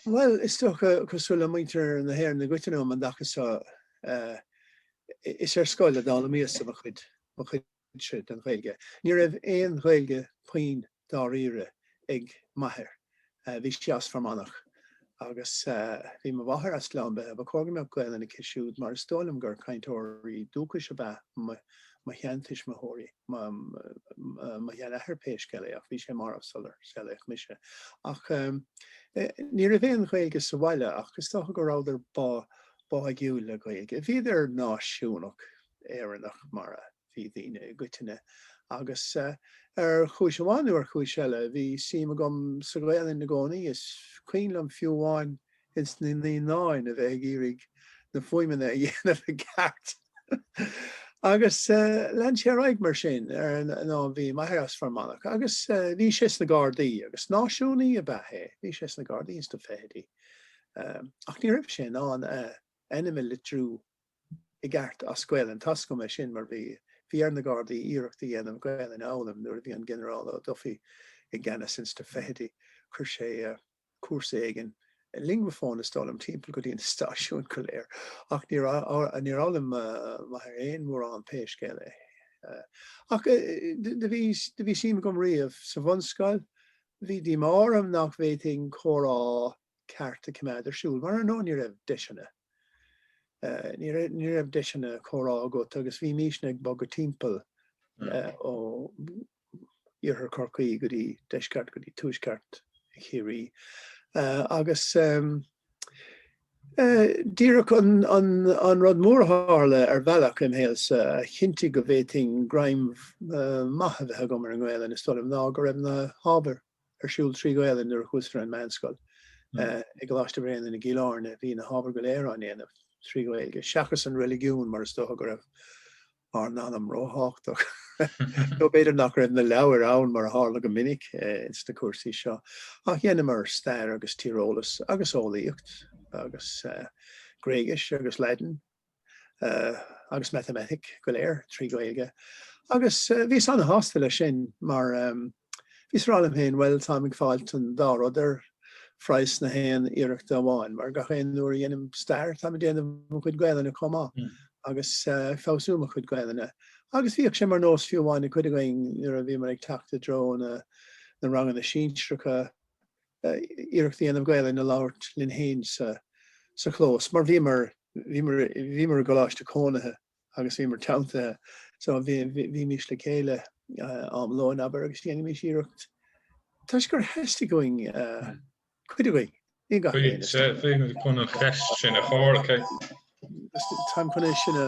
Bhuel, is dócha, cosúil le muintir na hÉireann i gcoitinne um an dtaca seo, is ar scoil a d'fhoghlaimíos-sa mo chuid den Ghaeilge. Ní raibh aon Ghaeilge puinn dáiríre ag m'athair, bhí sé as Fear Manach, agus bhí mo mháthair as Gleann Beithe. Ba chóir go mbeadh Gaolainn aici siúd, mar is dóigh liom gur cainteoirí dúchais ab ea mo sheantuismitheoirí, mo sheanathair pé scéal é ach bhí sé marbh sular saolaíodh mise, ach ní raibh aon Ghaeilge sa bhaile ach is dócha go rabhadar báidhiúil le Gaeilge. Bhíodar náisiúnach Éireannach mar a bhí daoine i gcoitinne agus ar chúis amháin nó ar chúis eile bhí suim agam sa Ghaelainn i gcónaí. Is cuimhin liom fiú amháin Insna Naíonáin a bheith ag iarraidh na fuaimeanna a dhéanamh i gceart. Agus lean sé ar aghaidh mar sin arae bhí m'athair as Fear Manach agus bhí sé sna Gardaí agus náisiúnaí ab ea é, bhí sé sna Gardaí insna fichidí ach ní raibh sé in ann m'ainm a litriú i gceart as Gaelainn d'ainneoin é sin mar bhí bhí ar na Gardaí iarracht a dhéanamh Gaelainn a fhoghlaim nuair a bhí an Ginearál Ó Dufaigh i gceannas insna fichidí chuir sé cúrsa éigin. Linguaphone is dóigh liom timpeall go dtí na stáisiúin go léir, ach níor fhoghlaim m'athair aon mhórán pé scéal é. Ach do bhí do bhí suim agam riamh sa bhunscoil. Bhí díomá orm nach bhféadfainn comhrá ceart a choimeád ar siúl, mar ar ndóigh ní raibh deiseanna ní raibh deiseanna comhrá agat agus bhímisne ag bogadh timpeall ó iarthar Chorcaí go dtí deisceart go dtí tuaisceart Chiarraí agus déarfainn an rud mór a tharla ar bhealach im shaolsa a chinntigh go bhféadfainn greim maith a bheith agam ar an nGaelainn is dóigh liom ná go raibh na hábhair ar siúl trí Ghaelainn nuair a chuas ar an meánscoil i gColáiste Bhréanainn i gCill Airne. Bhí na hábhair go léir á ndéanamh trí Ghaeilge seachas an reiligiún mar is dócha go raibh ár n-anam róthábhachtach. Nó b'fhéidir nach raibh na leabhair ann mar a tharla go minic sna cúrsaí seo, ach dheineamar stair agus tíreolas agus eolaíocht agus Gréigis agus Laidin agus Matamaitic go léir trí Ghaeilge agus bhíos ana-shásta leis sin mar Bhíos á rá liom féin, bhuel, táim ag fáilt an dá rud ar phraghas na haon iarrachta amháin, mar gach aon uair a dhéanaim stair, táim ag déanamh mo chuid Gaelainne chomh maith agus ag feabhsú mo chuid Gaelainne. Agus bhíodh sé mar nós fiú amháin ag cuid againn nuair a bhíomar ag teacht i dtreo na na ranganna sinsearacha iarracht a dhéanamh Gaelainn a labhairt linn fhéin sa sa chlós, mar bhíomar bhíomar bhíomar i gcoláiste cónaithe agus bhíomar teanntaithe. So bhímís le chéile am lóin, abair, agus dhéanaimís iarracht toisc gur theastaigh uainn cuid againn, ní gach éinne, is dócha. Bhí mé chun an cheist sin a chur ort. Táim chun é sin a.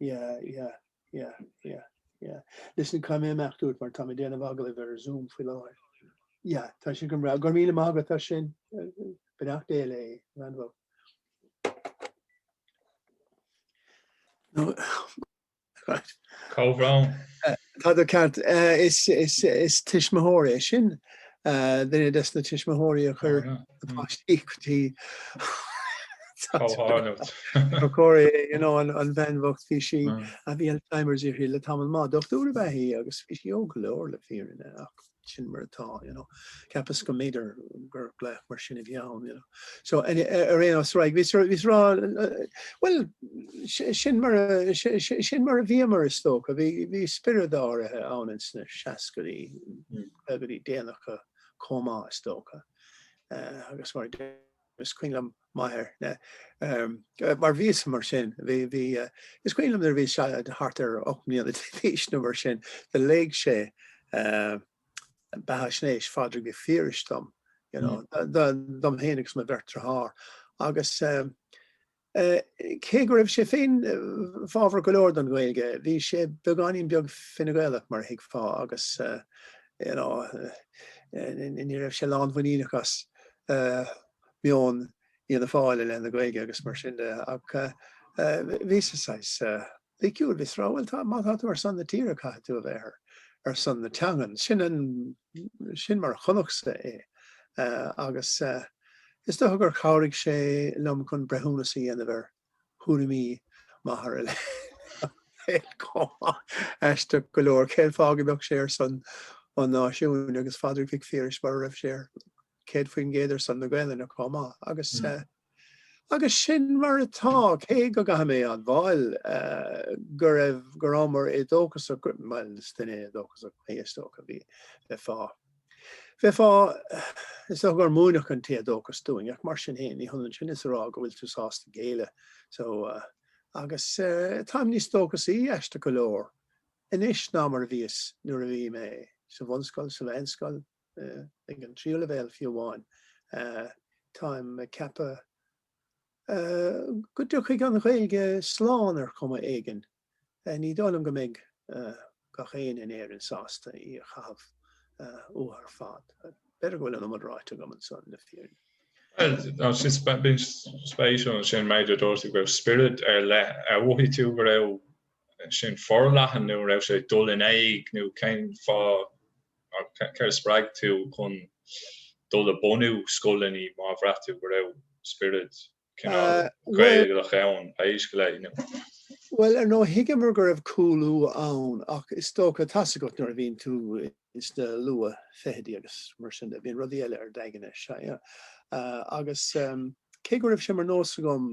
Yeah, yeah, yeah, yeah, yeah. Listen, caithfidh mé imeacht uait mar tá mé déanamh agallaimh ar Zoom faoi láthair. Yeah, tá sin go breá. Go raibh míle maith agat as sin. Beannacht Dé léi, an-bhrón. No, Comhbhrón. Tá tú ceart. Is tuismitheoir í sin, duine des na tuismitheoirí a chuir na páistí go dtí Cóiré an bhean bhocht bhí sí a bhí Alzheimers uirthi le tamall maith, dochtúir ab ea í agus bhí sí óg go leor le fírinne ach sin mar atá, you know, cheapas go mb'fhéidir gur glaoch mar sin a bhí ann, you know. So, ar aon nós, right, bhíos a rá, bhuel, sin mar a, sin mar a bhíomar, is dócha, bhí spiorad áirithe ann ins na seascaidí, go dtí déanach chomh maith, is dócha, agus mar a. Is cuimhin liom m'athair, mar bhíos mar sin, is cuimhin liom nuair a bhí sé thart ar ocht mbliana d'aois nó mar sin, do léigh sé beathaisnéis Phádraig Mhic Phiarais dom, you know, dom fhéin agus mo bheirt dearthár agus eh, Cé go raibh sé féin fabhrach go leor don Ghaeilge, bhí sé beagáinín beag Fine Gaelach mar a thuigfeá agus you know ní raibh sé lánmhuiníneach as meon Fhianna Fáil i leith na Gaeilge agus mar sin de ach bhíos-sa saghas eh, Bhí ciall le rá, Bhuel, má tá tú ar son na tíre, caithfidh tú a bheith ar ar son na teangan. Sin an, sin mar a chonacsa é. Agus is dócha gur chabhraigh sé liom chun breithiúnas a dhéanamh ar thuairimí m'athar chomh maith. Aisteach go leor, cén fáth go mbeadh sé ar son an náisiúin agus Phádraig Mhic Phiarais mura raibh sé 100% ar son na Gaelainne comh maith? Agus Agus sin mar atá, cé go gcaithfidh mé admháil go raibh, go rabhamar éadóchasach, bhuel, is duine éadóchasach mé, is dócha, bhí, bheifeá, bheifeá, is dócha gur múineadh an t-éadóchas dúinn ach mar sin féin, ní hionann sin is a rá go bhfuil tú sásta géilleadh. So, agus táim níos dóchasaí, aisteach go leor, anois ná mar a bhíos nuair a bhí mé sa bhunscoil, sa mheánscoil, ag an tríú leibhéal fiú amháin. Táim ag ceapadh go dtiocfaidh an Ghaeilge slán ar chuma éigin. Ní dóigh liom go mbeidh gach éinne in Éirinn sásta í a chaitheamh uathu ar fad. B'fhéidir go bhfuil an iomad ráite agam anseo le fírinne. Bhuel, sin spéisiúil ansin an méid a dúirt tú go raibh spiorad ar leith. Ar mhothaigh tú go raibh sin forleathan nó an raibh sé ag dul in éag nó cén fáth? ach céard a spreag tú chun dul ag bunú scoileanna má bhraith tú go raibh spiorad cineál Gaelach ann faoi leith inniu? Bhuel, ar ndóigh, thuigeamar go raibh cúlú ann, ach is dócha, tá a fhios agat nuair a bhíonn tú sna luathfhichidí agus mar sin de, bíonn rudaí eile ar d'aigne, sea, agus. Cé go raibh sé mar nós agam,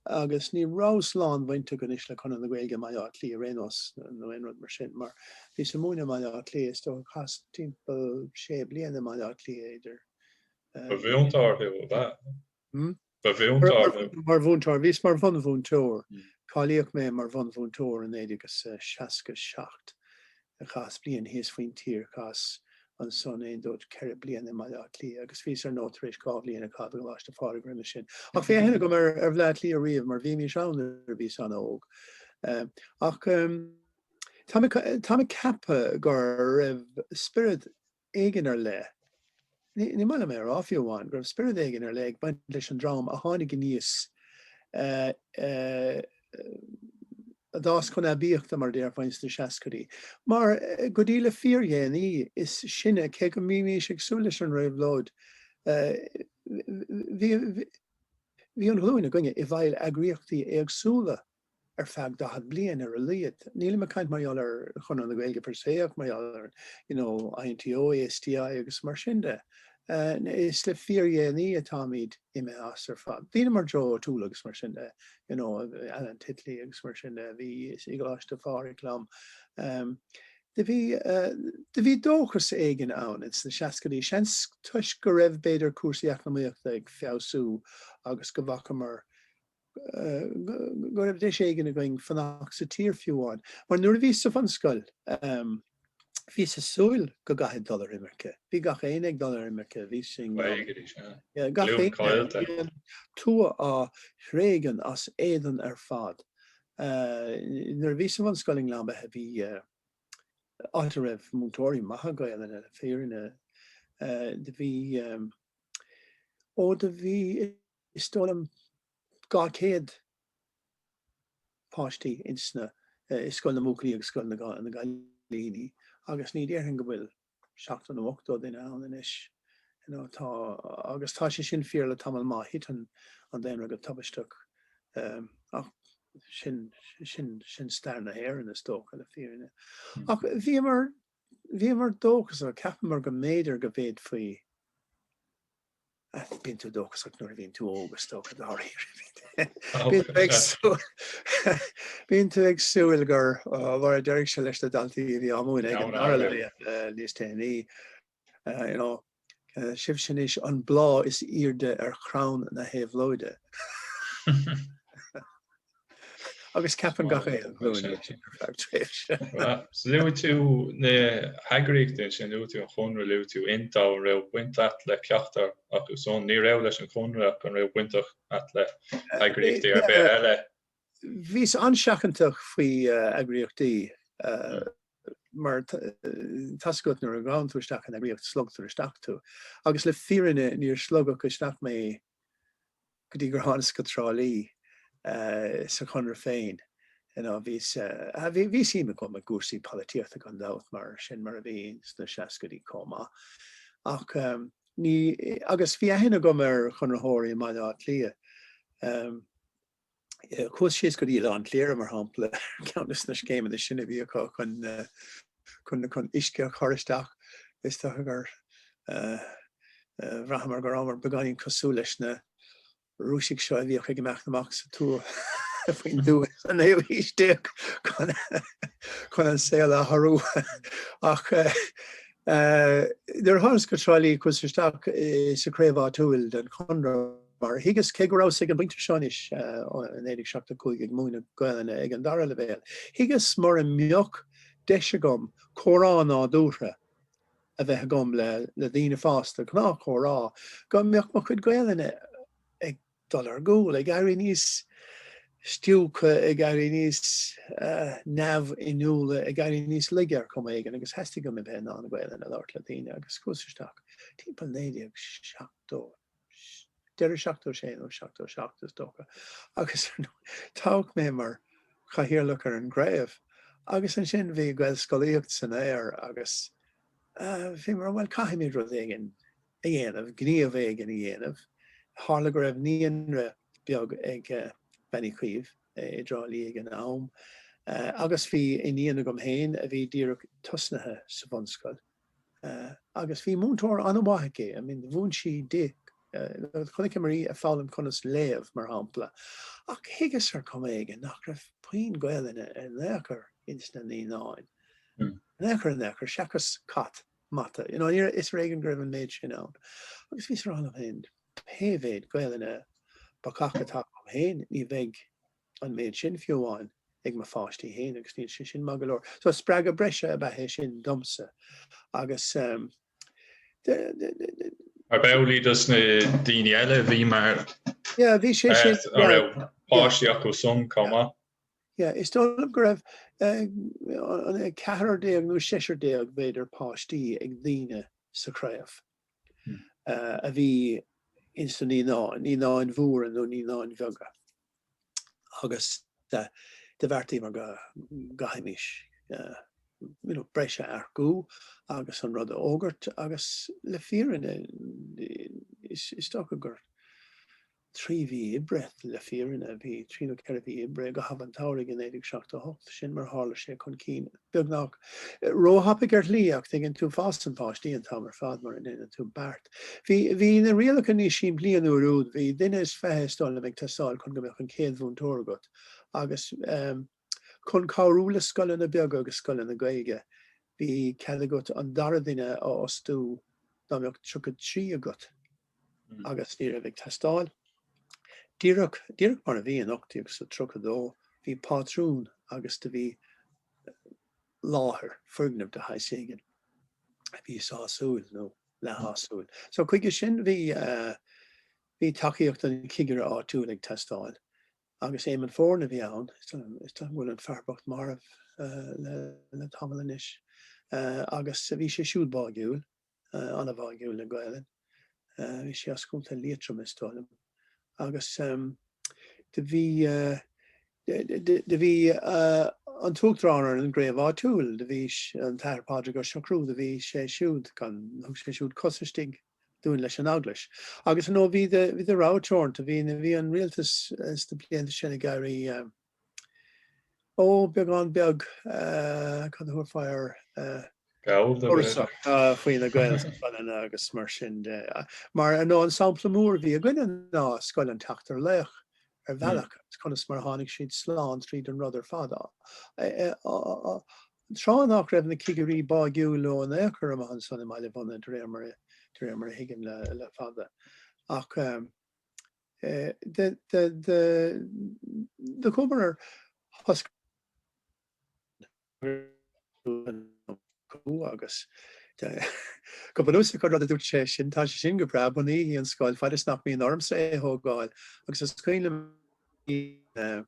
agus ní raibh an-bhaint agam anois le Conradh na Gaeilge i mBaile Átha Cliath ar aon nós nó aon rud mar sin, mar bhíos ag múineadh i mBaile Átha Cliath, is dócha, chaitheas timpeall sé bliana i mBaile Átha Cliath idir. Ba mhúinteoir thú, ab ea? Hm? Ba mhúinteoir thú? Mar mhúinteoir. Bhíos mar bhunmhúinteoir. Cáilíodh mé mar bhunmhúinteoir in 1967. chaitheas bliain thíos faoin tír, chaitheas ansan 1, 2, 3, 4 bliana i mBaile Átha Cliath agus bhíos ar ndóigh tar éis dhá bhliain a chaitheamh i gColáiste Phádraig roimis sin. Ach bhí aithne agam ar Bhleá Cliath riamh mar bhímís ann nuair a bhíos an-óg. Ach tá mé ag ceapadh go raibh spiorad. éigin ar leith, ní maith liom é a rá fiú amháin, go raibh spiorad éigin ar leith ag baint leis an dream a tháinig aníos a d'fhás chun aibíochta mar a déarfá sna seascaidí. Mar go dtí le fíordhéanaí is sinne, cé go mbímís ag súil leis an réabhlóid, bhí an ghlúin againne i bhfeighil eagraíochtaí éagsúla ar feadh 40 bliain ar a laghad. Nílim ag caint mar gheall ar Chonradh na Gaeilge per se ach mar gheall ar you know INTO, ASTI agus mar sin de. Is le fíordhéanaí atáimid imithe as ar fad. Daoine mar Joe O'Toole agus mar sin de you know Alan Titley agus mar sin de a bhí i gColáiste Phádraig liom. Um, do bhí uh, do bhí dóchas éigin ann ins na seascaidí seans toisc go raibh b'fhéidir cúrsaí eacnamaíochta ag feabhsú agus go bhfacamar go raibh deis éigin againn fanacht sa tír fiú amháin, mar nuair a bhíos sa bhunscoil, bhíos ag súil go gcaithfead dul ar imirce. Bhí gach aoinne ag dul ar imirce, bhí sin gach aoinne, an tuath á tréigean as éadan ar fad. Nuair a bhíos sa bhunscoil i nGleann Beithe, bhí áit a raibh múinteoirí maithe Gaelainne le fírinne, do bhí, ó do bhí, Is dóigh liom 200 páiste insna, i Scoil na mBuachaillí agus Scoil na gCailíní agus ní déarfainn go bhfuil 70 nó 80 duine ann anois, you know, tá, agus tá sé sin fíor le tamall maith, thit an daonra go tubaisteach um, ach sin, sin, sin stair na hÉireann is dócha le fírinne. Hmm. Ach bhíomar, bhíomar dóchasach cheapamar go mb'fhéidir go bhféadfaí Bíonn tú dóchasach nuair a bhíonn tú óg is dócha dáiríre. Bíonn tú ag súil gur mar a deireadh sé leis na daltaí a bhí á múineadh aige an dara leibhéal níos déanaí. Sibhse anois an bláth is aoirde ar chrann na héabhlóide. agus ceapann gach aon ghlúin é sin ar feadh tréimhse. Luaigh tú na heagraíochtaí sin, luaigh tú an Conradh, luaigh tú Inniu, an raibh baint agat le ceachtar acu san? Ní raibh leis an gConradh ach an raibh baint agat le heagraíochtaí ar bith eile? Bhíos an-seachantach faoi eagraíochtaí mar tá a fhios agat nuair a ghabhann tú isteach in eagraíocht sloigtear isteach tú agus le fírinne níor sloigeadh isteach mé go dtí gur thánas go Trá Lí sa Chonradh féin. Bhí suim agam i gcúrsaí polaitíochta gan dabht, mar sin mar a bhí sna seascaidí chomh maith, ach ní, agus bhí aithne agam ar Chonraitheoirí i mBaile Átha Cliath. Chuas síos go dtí Oileán Chléire, mar shampla, ceann des na scéimeanna sin a bhí acu chun, chun chun uisce a chur isteach. Is dócha gur bhraitheamar go rabhamar beagáinín cosúil leis na Rúisigh seo a bhíodh ag imeacht amach sa tuath, faoin dtuath sa naoú haois déag chun an saol a athrú ach nuair a thánas go Trá Lí chuas isteach sa chraobh áitiúil den Chonradh Mar thuigeas, cé go rabhas ag an bpointe seo anois, i 1975, ag múineadh Gaelainne ag an dara leibhéal, thuigeas mura mbeadh deis agam comhrá nádúrtha a bheith agam le daoine fásta, gnáthchomhrá, go mbeadh mo chuid Gaelainne ag dul ar gcúl, ag éirí níos stiúgtha, ag éirí níos neamhinniúla, ag éirí níos laige ar chuma éigin agus theastaigh uaim a bheith in ann Gaelainn a labhairt le daoine agus chuas isteach timpeall 1970. deireadh 76 nó 77 is dócha, agus toghadh mé mar chathaoirleach ar an gcraobh agus ansin bhí Gaelscolaíocht san aer agus bhí mar, bhuel, caithfimid rud éigin a dhéanamh, gníomh éigin a dhéanamh. Tharla go raibh naíonra beag ag Bean Uí Chaoimh i dTrá Lí ag an am agus bhí iníon agam féin a bhí díreach tosnaithe sa bhunscoil. agus bhí múinteoir an-mhaith aici I mean mhúin sí di, chonaiceamar í ag foghlaim conas léamh, mar shampla, ach thuigeas ar chuma éigin nach raibh puinn Gaelainne in aon chor ins na naíonáin, in aon chor, in aon chor, seachas cat, mata, you know, aniar is ar éigean go raibh an méid sin ann, agus bhíos á rá liom féin, pé mhéid Gaelainne bacach atá agam féin, ní bheidh an méid sin fiú amháin ag mo pháistí féin agus níl sé sin maith go leor. So spreagadh breise ab ea é sin domsa agus. Ab amhlaidh dos na daoine eile a bhí mar Yeah, bhí sé sin, a yeah, raibh yeah. páistí acu san chomh maith. Yeah, is dóigh liom go raibh an 14 nó 16, b'fhéidir, páistí ag daoine sa chraobh a bhí ins na naíonáin, naíonáin mhóra nó naíonáin bheaga. agus do bheartaíomar go gcaithfimis, you know, breis a earcú agus an rud a fhógairt agus le fírinne is dócha gur trí mhí oibre le fírinne a bhí trí nó ceithre mhí oibre i gcaitheamh an tsamhraidh i 1978, sin mar a tharla sé chun cinn. beagnach róthapaidh ar shlí ach tuigeann tú fásann páistí an t-am ar fad mura ndéanann tú beart. Bhí bhí na rialacha níos simplí an uair úd, bhí duine is fiche is dóigh liom ag teastáil chun go mbeadh an chéad mhúinteoir agat agus chun cabhrú le scoileanna beaga agus scoileanna Gaeilge bhí cead agat an dara duine a fhostú dá mbeadh 33 agat. agus ní raibh ag teastáil. Díreach, díreach mar a bhí in 1832, bhí pátrún agus do bhí láthair, foirgneamh de shaghas éigin a bhí sásúil nó leathshásúil. So chuige sin bhí bhí tacaíocht an chigire áitiúil ag teastáil agus Éamonn Foran a bhí ann, is dóigh go bhfuil an fear bocht marbh le tamall anois, agus bhí sé siúd báigiúil. an-bháigiúil le Gaelainn. Bhí sé as Contae Liatroim is dóigh liom agus do bhí do bhí an tUachtarán ar an gcraobh áitiúil, do bhí an tAthair Pádraig Ó Siochrú, do bhí sé siúd gan, thug sé siúd cos istigh dúinn leis an Eaglais. Agus, you know, bhí do bhí do rogha teoranta, bhí an Rialtas sna blianta sin ag éirí Ó, beagán beag, cad a thabharfá air, cúrsa faoi na Gaelscoileanna agus mar sin de. Mar ar ndóigh an sampla mór a bhí againne ná Scoil an tSeachtar Laoch ar bhealach agus conas mar a tháinig siad slán tríd an rud ar fad. Tráth nach raibh na cigirí báigiúil leo in aon chor amach ansan i mBaile Mhunna de réir mar a thuigim le fada ach de chuamar ar thoscaireacht acu agus de go bunúsach an rud a dúirt sé sin tá sé sin go breá bunaígí an scoil fad is nach mbíonn ormsa é a thógáil agus is cuimhin liom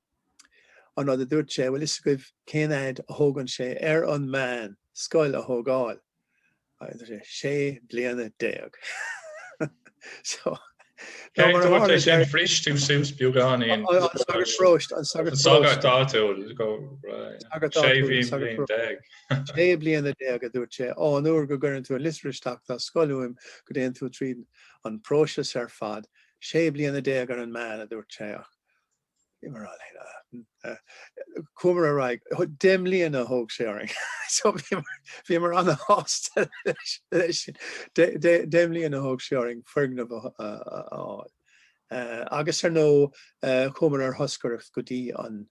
an rud a dúirt sé bhfuil a fhios agaibh cén fhaid a thógann sé ar an meán scoil a thógáil. sé bliana déag. Cé go bhfuil sé sin frist tú suas beagán in. An sagart paróiste, an sagart paróiste. An sagart áitiúil, go raibh sé bliana déag. Sé bliana déag a dúirt sé, ó an uair go gcuireann tú an liosta isteach dá scoil uaim go dtéann tú tríd an próiseas ar fad, sé bliana déag ar an meán a dúirt sé ach Chuamar ar aghaidh, deich mbliana a thóg sé orainn, so bhíomar an-shásta leis sin, deich mbliana a thóg sé orainn foirgneamh a fháil. Agus ar ndóigh, chuamar ar thoscaireacht go dtí an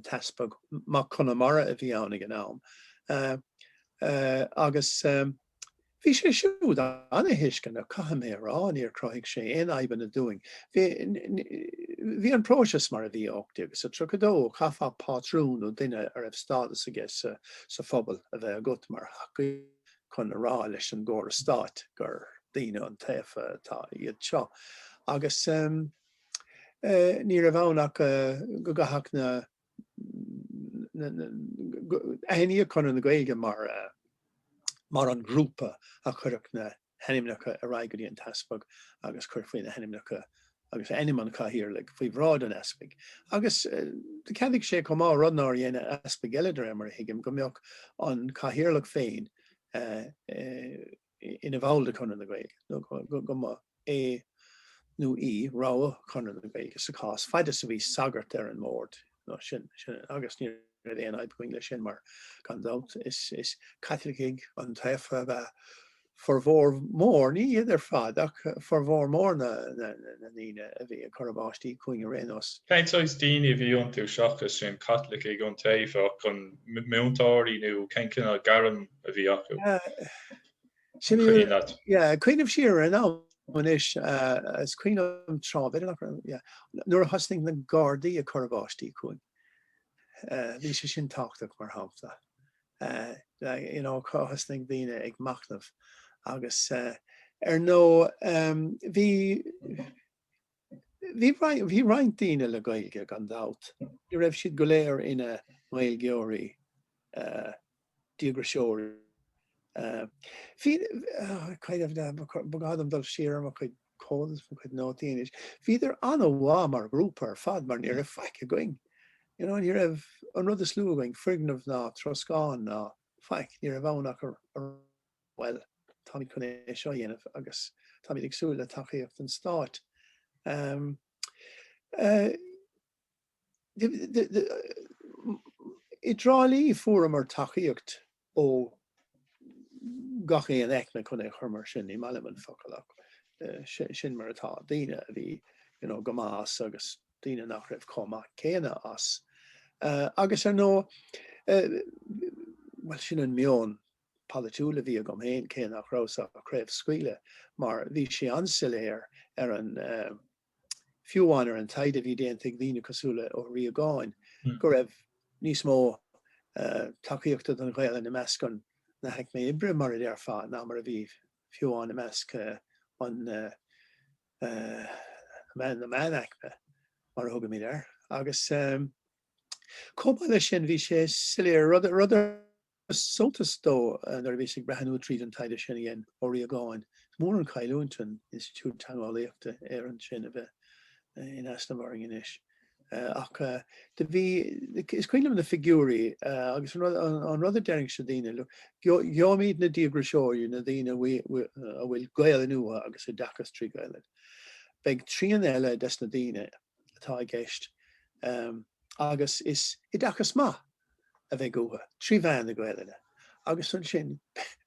tEaspag Mac Conamara a bhí ann ag an am agus Bhí sé siúd an-thuisceanach, caithfidh mé a rá, níor chruthaigh sé aon fhadhbanna dúinn. Bhí an próiseas mar a bhí. 1832 Chaithfeadh pátrún nó duine a raibh stádas aige sa phobal a bheith agat mar thacaí chun a rá leis an gcóras stáit gur daoine iontaofa atá iad seo agus ní raibh ann ach go gcaithfeadh na. Aithníodh Conradh na Gaeilge mar an grúpa a chuirfeadh na hainmneacha ar aghaidh go dtí an tEaspag agus cuirfí na hainmneacha agus ainm an Chathaoirligh faoi bhráid an Easpaig agus do cheadaigh sé chomh maith, rud nár dhein Easpaig eile de réir mar a thuigim, go mbeadh an Cathaoirleach féin ina bhall de Chonradh na Gaeilge nó go mba é nó í rogha Chonradh na Gaeilge sa chás, faid is a bhí sagart ar an mbord agus ní raibh aon fhadhb againn leis sin mar gan dabht is Caitlicigh iontaofa a bheadh formhór mór ní iad ar fad ach formhór mór na ndaoine a bhí ag cur a bpáistí chugainn ar aon nós. Cén saghas daoine a bhí iontu seachas sin, Caitlicigh iontaofa ach an múinteoirí nó cén cineál gairm a bhí acu? Sin í an áit. Yeah, cuimhnim siar ar an am anois, is cuimhin liom tráth bhfeile nach raibh, yeah, nuair a thosnaigh na Gardaí ag cur a bpáistí chugainn. Bhí sé sin tábhachtach, mar shampla, you know, thosnaigh daoine ag machnamh agus ar ndóigh bhí, Bhí roinnt daoine le Gaeilge gan dabht, ní raibh siad go léir ina nGaeilgeoirí díograiseoirí. Ba ghá dom dul siar ar mo chuid comhad is mo chuid nótaí anois. Bhíodar an-mhaith mar ghrúpa ar fad mar ní raibh faic againn. Ní raibh an rud is lú againn, foirgneamh ná troscán ná faic, ní raibh ann ach. Bhuel, táimid chun é seo a dhéanamh agus táimid ag súil le tacaíocht an Stáit. I dTrá Lí fuaireamar tacaíocht ó gach aon aicme chun é a chur mar sin, ní maith liom an focal ach sin mar atá, daoine a bhí go maith as agus daoine nach raibh chomh maith céanna as. Agus ar ndóigh, bhuel sin an meon. polaitiúil a bhí agam fhéin, cé nach rabhas ag craobhscaoileadh, mar bhí sé an-soiléir ar an, fiú amháin ar an taighde a bhí déanta ag daoine cosúil le Ó Riagáin, go raibh níos mó tacaíochta don Ghaelainn i measc an, na haicme oibre, mar a déarfá, ná mar a bhí, fiú amháin, i measc an, na meánaicme, mar a thugaimid air. Agus, chomh maith leis sin, bhí sé soiléir, rud a, rud a. Suntas dó nuair a bhíos ag breathnú tríd an taighde sin a dhein Ó Riagáin, is mór an chailliúint an Institiúid Teangeolaíochta Éireann sin a bheith in easnamh orainn anois. Ach do bhí, is cuimhin liom na figiúirí agus an rud a deirinnse le daoine, look, gheobhaimíd na díograiseoirí, na daoine a bhfuil Gaelainn uathu agus oideachas trí Ghaelainn. Beidh trian eile des na daoine atá i gceist agus is oideachas maith, a bheidh uathu, trí mheán na Gaelainne, agus ansin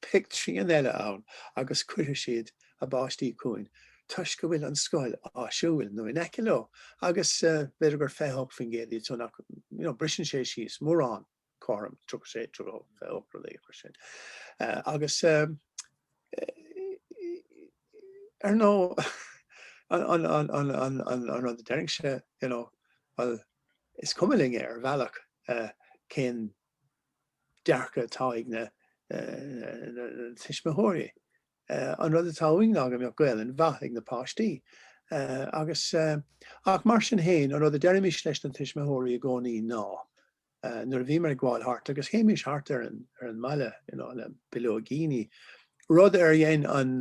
beidh trian eile ann agus cuirfidh siad a bpáistí chugainn toisc go bhfuil an scoil áisiúil nó in aice leo agus b'fhéidir gur 28% iad so nach briseann sé síos mórán cothrom 36, 28 rud éigin mar sin agus ar ndóigh an rud a deirinnse you know bhuel Is cuma linn ar bhealach cén dearcadh atá ag na tuismitheoirí. An rud atá uainn ná go mbeadh Gaelainn mhaith ag na páistí. Agus, ach mar sin fhéin, an rud a deirimis leis na tuismitheoirí i gcónaí ná, nuair a bhíomar ag gabháil thart agus théimis thart ar an mbaile, you know, le bileoigíní, rud ar dhein an.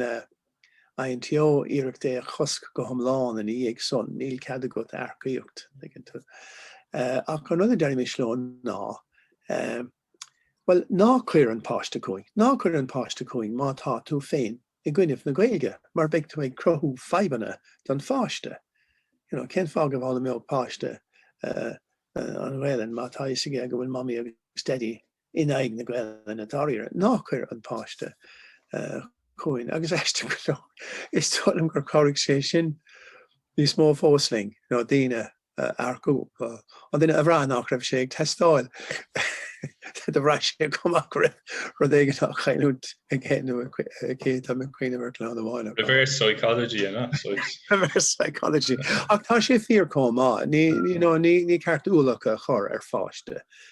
an INTO iarracht é a chosc go hiomlán ina dhiaidh san, níl cead agat earcaíocht. Ach an rud a deirimis leo ná, bhuel, ná cuir an páiste chugainn, ná cuir an páiste chugainn má tá tú féin i gcoinnibh na Gaeilge mar beidh tú ag cruthú fadhbanna don pháiste. You know, cén fáth go bhfoghlaimeodh páiste an Ghaelainn má tá fhios aige go bhfuil mamaí agus daidí in aghaidh na Gaelainne dáiríre, ná cuir an páiste chugainn. Agus aisteach go leor, is dóigh liom gur chabhraigh sé sin níos mó fós linn, you know, daoine a earcú, an duine a bhraith nach raibh sé ag teastáil do bhraith sé chomh maith go raibh rud éigin á chailliúint aige nó aici táim ag cuimhneamh ar clann amháin. Reverse psychology, you know, so it's- Reverse psychology. Ach tá sé fíor chomh maith. Ní, you know, ní, ní ceart ualach a chur ar pháiste.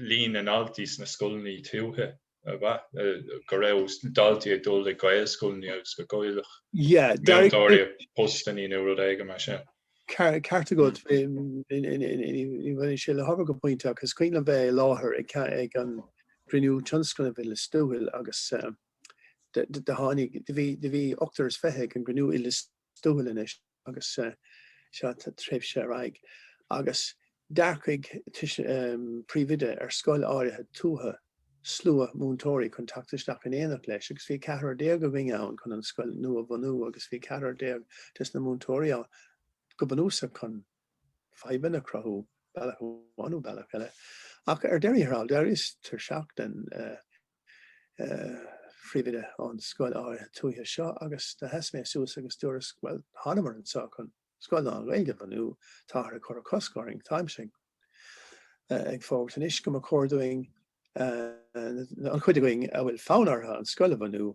líon na ndaltaí sna scoileanna tuaithe, go raibh daltaí ag dul ag Gaelscoileanna agus go gcaillfeadh múinteoirí a bpostanna nó rud éigin mar sin. Ceart agat, baineann sé le hábhar go pointe agus is cuimhin liom bheith i láthair ag an gcruinniú tionscnaimh i Lios Tuathail agus do tháinig, do bhí ochtar is fiche ag an gcruinniú i Lios Tuathail anois agus sa tréimhse ar aghaidh, agus d'earcaigh príomhoide ar scoil áirithe tuaithe slua múinteoirí chun teacht isteach in éineacht leis agus bhí ceathrar déag againn ann chun an scoil nua a bhunú agus bhí ceathrar déag des na múinteoirí ann go bunúsach chun fadhbanna a chruthú bealach amháin nó bealach eile. Ach ar deireadh thiar thall, d'éiríos tuirseach den phríomhoide ón scoil áirithe tuaithe seo agus do sheas mé suas agus dúras bhuel thánamar anseo chun scoil lán-Ghaeilge a bhunú, táthar ag cur cosc orainn, táimse ag fógairt anois go mba chóir dúinn, an chuid againn a bhfuil fonn orthu an scoil a bhunú,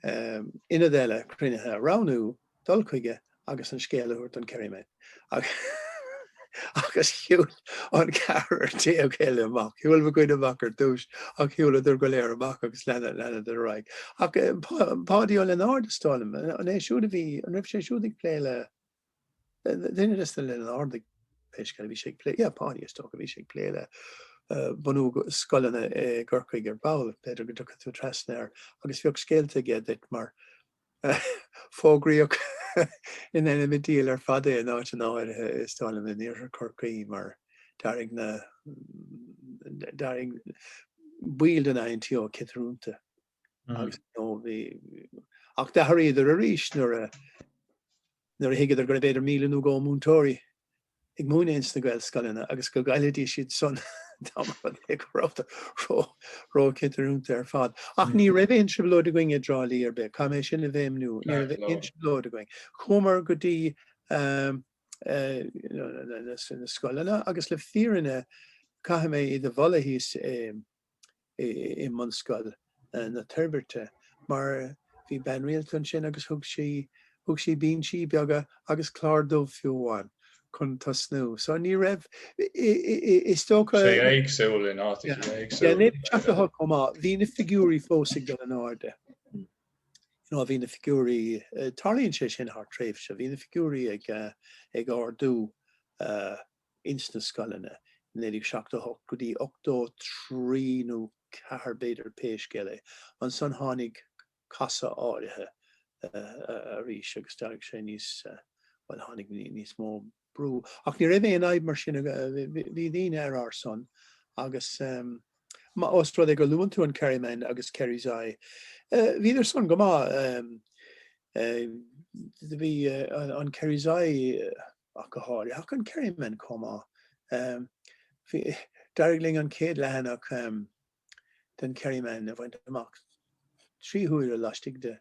ionad eile cruinnithe a roghnú. dul chuige agus an scéal a thabhairt don Kerryman agus shiúil an ceathrar déag eile amach. Shiúil mo dhuine amach ar dtús ach shiúladar go léir amach agus leanadar ar aghaidh. Ach Páidí Ó Lionáird is dóigh liom, an é siúd a bhí, an raibh sé siúd ag plé le, duine de sna Lionáirdigh pé scéal é, bhí sé ag plé, yeah Páidí is dócha a bhí sé ag plé le bunú scoileanna i gCorcaigh ar ball, b'fhéidir go dtiocfadh tú trasna air agus bheadh scéalta aige duit mar Fógraíodh ina enemy diail ar fad é in áiteanna áirithe is dóigh liom in Iarthar Chorcaí mar d'éirigh na d'éirigh baill den INTO ciotrúnta agus ar ndóigh bhí ach d'athraíodar arís nuair a nuair a thuigeadar gurbh fhéidir míle nó dhó múinteoirí ag múineadh ins na Gaelscoileanna agus go gcaillfidís iad san dá mba rud é go rabhthar ró róchantrúnta ar fad. Ach ní raibh aon trioblóid againn i dTrá Lí ar bith, caithfidh mé sin a bhéimniú, ní raibh aon trioblóid againn. Chuamar go dtí na scoileanna agus le fírinne caithfidh mé iad a mholadh thíos i mBunscoil na Toirbhirte mar bhí bean rialta ansin agus thug sí thug sí binsí beaga agus clár dubh fiú amháin chun tosnú so ní raibh is dócha sé éagsúil in áit éagsúil. Bhí ag teacht chomh maith. Bhí na figiúirí fós ag dul in airde. You know bhí na figiúirí tarlaíonn sé sin thar tréimhse bhí na figiúirí ag ardú ins na scoileanna, 1978 go dtí 83 nó 4 b'fhéidir pé scéal é. Ansan tháinig casadh áirithe arís agus d'éirigh sé níos, bhuel tháinig níos mó brú. Ach ní raibh aon fhadhb mar sin, bhí daoine ar ár son agus má, os rud é gur luann tú an Kerryman agus Kerry's Eye, bhíodar san go maith, do bhí an Kerry's Eye, ach go háiritheach an Kerryman chomh maith. D'éirigh linn an chéad leathanach den Kerryman a bhaint amach trí huaire laistigh de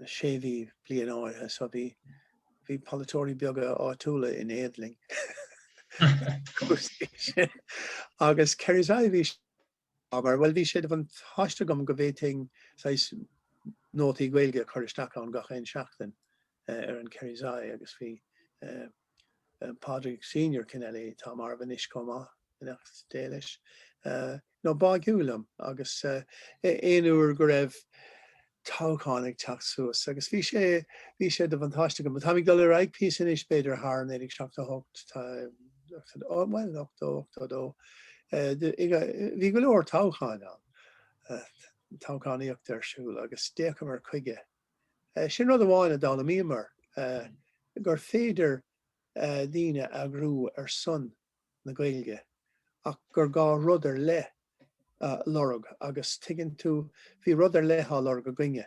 sé mhí, bliain áirithe, so bhí polaiteoirí beaga áitiúla in éad linn. Agus Kerry's Eye, bhí Mar, bhuel, bhí sé de bhuntáiste agam go bhféadfainn saghas nótaí Gaeilge a chur isteach ann gach aon seachtain ar an Kerry's Eye agus bhí Pádraig Senior Kennelly, atá marbh anois, chomh maith, beannacht Dé leis, an-bháigiúil liom agus aon uair go raibh. toghchán ag teacht suas agus bhí sé bhí sé de bhuntáiste agam. Táim ag dul ar aghaidh píosa anois b'fhéidir thar an 1978 tá bhuel 80, 82 eh, bhí go leor toghcháin ann eh, toghchánaíocht ar siúl agus d'fhéachamar chuige. Eh, sin rud amháin a d'fhoghlaimíomar eh, gur féidir eh, daoine a eagrú ar son na Gaeilge ach gur gá rud ar leith a lorg agus tuigeann tú, bhí rud ar leith á lorg againne,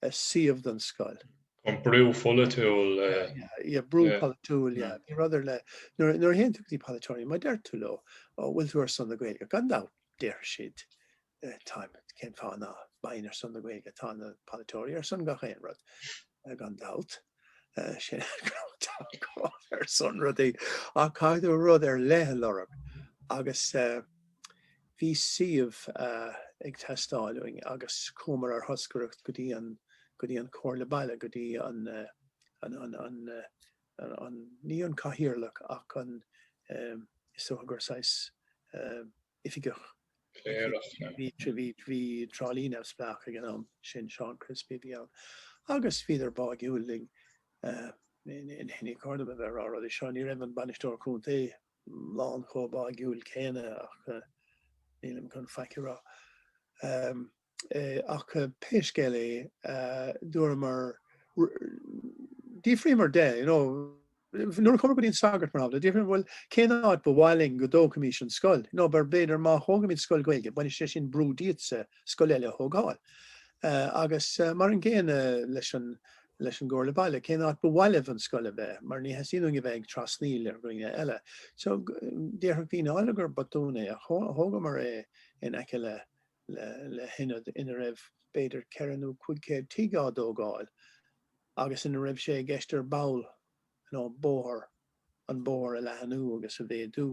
suíomh don scoil. An brú polaitiúil, yeah. Yeah, brú polaitiúil, yeah. Bhí rud ar leith. Nuair a théann tú go dtí polaiteoirí, má deir tú leo, bhfuil tú ar son na Gaeilge? Gan dabht, déarfaidh siad, Táim, cén fáth ná beinn ar son na Gaeilge, tá na polaiteoirí ar son gach aon rud, gan dabht. Sin, ar son rudaí. Ach caithfidh tú rud ar leith a lorg. Agus bhí suíomh ag teastáil uainn agus chuamar ar thoscaireacht go dtí an, go dtí an Comhairle Baile, go dtí an, an, an, ní an Cathaoirleach ach an, is dócha gur saghas, oifigeach bhí Trá Lí neamhspleách ag an am sin, Seán Crispy a bhí ann agus bhíodar báidhiúil linn in ainneoin cad atáim a bheith ag rá rudaí. Seo, ní raibh an Bainisteoir Contae lán chomh báidhiúil céanna ach nílim chun faic a rá. ach pé scéal é, dúramar, d'fhiafraíomar de, you know, nuair a chuamar go dtí an sagart, mar d'fhiafraíomar, bhuel, cén áit ba mhaith leat go dtógfaimis an scoil? You know, mar b'fhéidir má thógaimid scoil Ghaeilge, baineann sé sin brú díotsa scoil eile a thógáil. Agus mar an gcéanna leis an, leis an gComhairle Baile, cén áit ba mhaith libh an scoil a bheith, mar níor theastaigh uainn a bheith ag trasnaíl ar dhaoine eile. So, déarfadh daoine, all right gur botún é, ach thógamar é in aice le, le hionad ina raibh b'fhéidir ceithre nó cúig céad tigh á dtógáil agus ina raibh sé i gceist ar ball an bóthar an bóthar a leathanú agus a mhéadú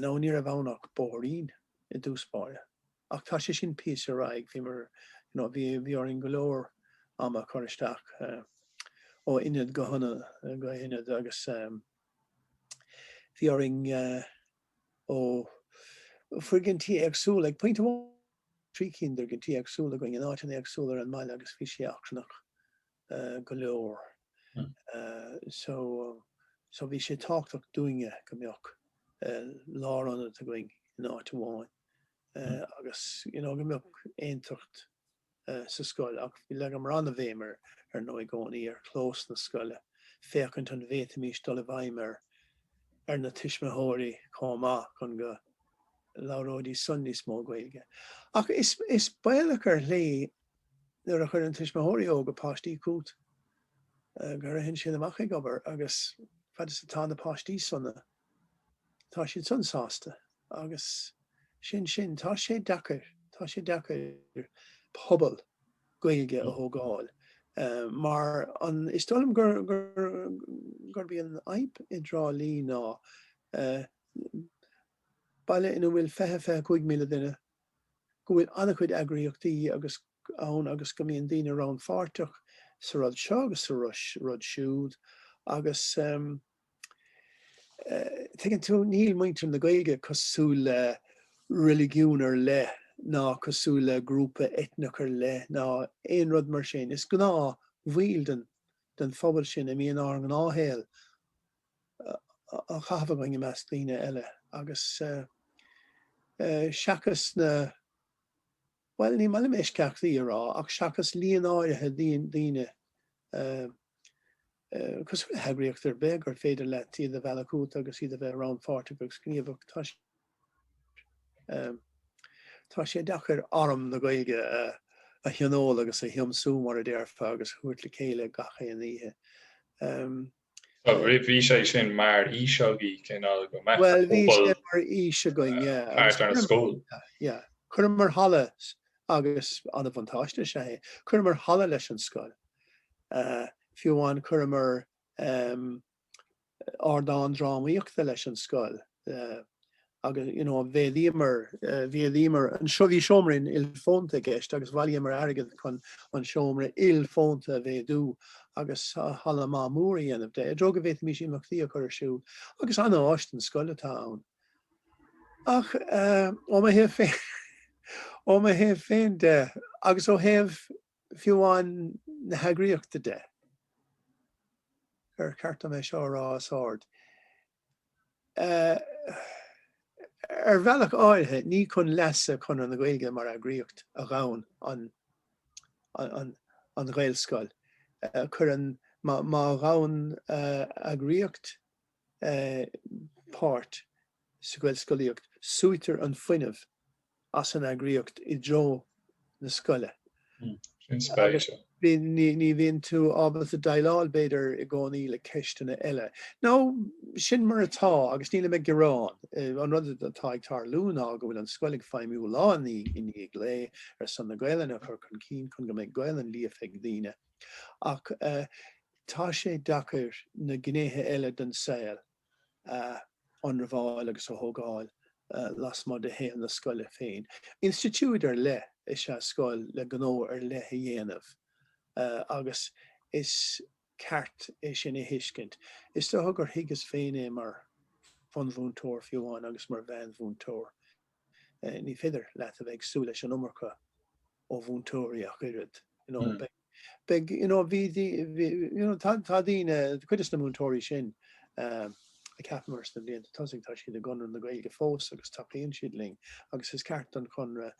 now ní raibh ann ach bóithrín i dtús báire ach tá sé sin píosa ar aghaidh bhí mar you know bhí bhí orainn go leor am a chur isteach uh, ó ionad go hionad go ionad agus um, bhí orainn uh, ó, foirgintí éagsúla, ag pointe amháin bhí trí cinn d'fhoirgintí éagsúla againn in áiteanna éagsúla ar an mbaile agus bhí sé achrannach go leor. So, so bhí sé tábhachtach dúinne go mbeadh lárionad againn in áit amháin agus, you know, go mbeadh aontacht sa scoil ach leagamar an-bhéim ar ndóigh i gcónaí ar chlós na scoile féachaint an bhféadfaimis dul i bhfeidhm ar ar na tuismitheoirí chomh maith chun go labhróidís san níos mó Gaeilge. Ach is, is baolach ar shlí nuair a chuireann tuismitheoirí óga páistí chughat eh, go dtéann siad san amach ag obair agus fad is atá na páistí sona tá siad san sásta agus sin sin. Tá sé deacair, tá sé deacair pobal Gaeilge a thógáil mar, is dóigh liom gur, gur, gurb í an fhadhb i dTrá Lí ná baile ina bhfuil fiche, fiche a cúig míle duine, go bhfuil an-chuid eagraíochtaí agus, ann agus go mbíonn daoine rannpháirteach sa rud seo agus sa rud siúd agus, eh, Tuigeann tú, níl muintir na Gaeilge cosúil le reiligiún ar leith ná cosúil le grúpa eitneach ar leith ná aon rud mar sin. Is gnáthbhaill den, den phobal sin a mbíonn ár ngnáthshaol á chaitheamh againn i measc daoine eile agus seachas na, bhuel, ní maith liom eisceachtaí a rá ach seachas líon áirithe daoine, Cosúil le heagraíocht ar bith gur féidir leat iad a mhealladh chugat agus iad a bheith rannpháirteach agus gníomhach, tá sé tá sé deacair arm na Gaeilge a thionól agus a thiomsú mar a déarfá agus a thabhairt le chéile gach aon oíche. Bhí sé sin mar fhís againn cineál go mbeadh pobal thart ar an scoil. Chuireamar halla agus an-bhuntáiste is ea é. Chuireamar halla leis an scoil. Fiú amháin chuireamar ardán drámaíochta leis an scoil agus you know mhéadaíomar mhéadaíomar anseo bhí seomra ilfhónta i gceist agus bhailíomar airgead chun an seomra ilfhónta a mhéadú agus halla maith mór a dhéanamh de. I dtreo go bhféadfaimís imeachtaí a chur ar siúl agus an-áis don scoil atá ann. Ach ó mo thaobh féin, ó mo thaobh féin de, agus ó thaobh fiú amháin na heagraíochta de, ar cheart dom é seo a rá os ard? ar bhealach áirithe ní chun leasa Chonradh na Gaeilge mar eagraíocht a ghabhann an ghaelscoil, cuireann, má ghabhann eagraíocht, páirt sa Ghaelscolaíocht, súitear an fuinneamh as an eagraíocht i dtreo na scoile, ní bhíonn tú ábalta déileáil, b'fhéidir, i gcónaí le ceisteanna eile. Nó, sin mar atá agus nílim ag gearán. An rud atá ag tarlú ná go bhfuil an scoil ag feidhmiú lá i ndiaidh lae ar son na Gaelainne a chur chun cinn chun go mbeidh Gaelainn líofa ag daoine, Ach tá sé deacair na gnéithe eile den saol a ionramháil agus a thógáil lasmuigh de shaol na scoile féin. Institiúid ar leith is ea scoil le gnó ar leith le déanamh agus is ceart é sin a thuiscint. Is dócha gur thuigeas féin é mar bhunmhúinteoir fiú amháin agus mar mheánmhúinteoir. Ní féidir leat a bheith ag súil leis an iomarca ó mhúinteoirí ach oiread. Tá daoine, cuid des na múinteoirí sin a cheapamar sna blianta tosaigh, tá siad i gConradh na Gaeilge fós agus tacaíonn siad linn agus is ceart don Chonradh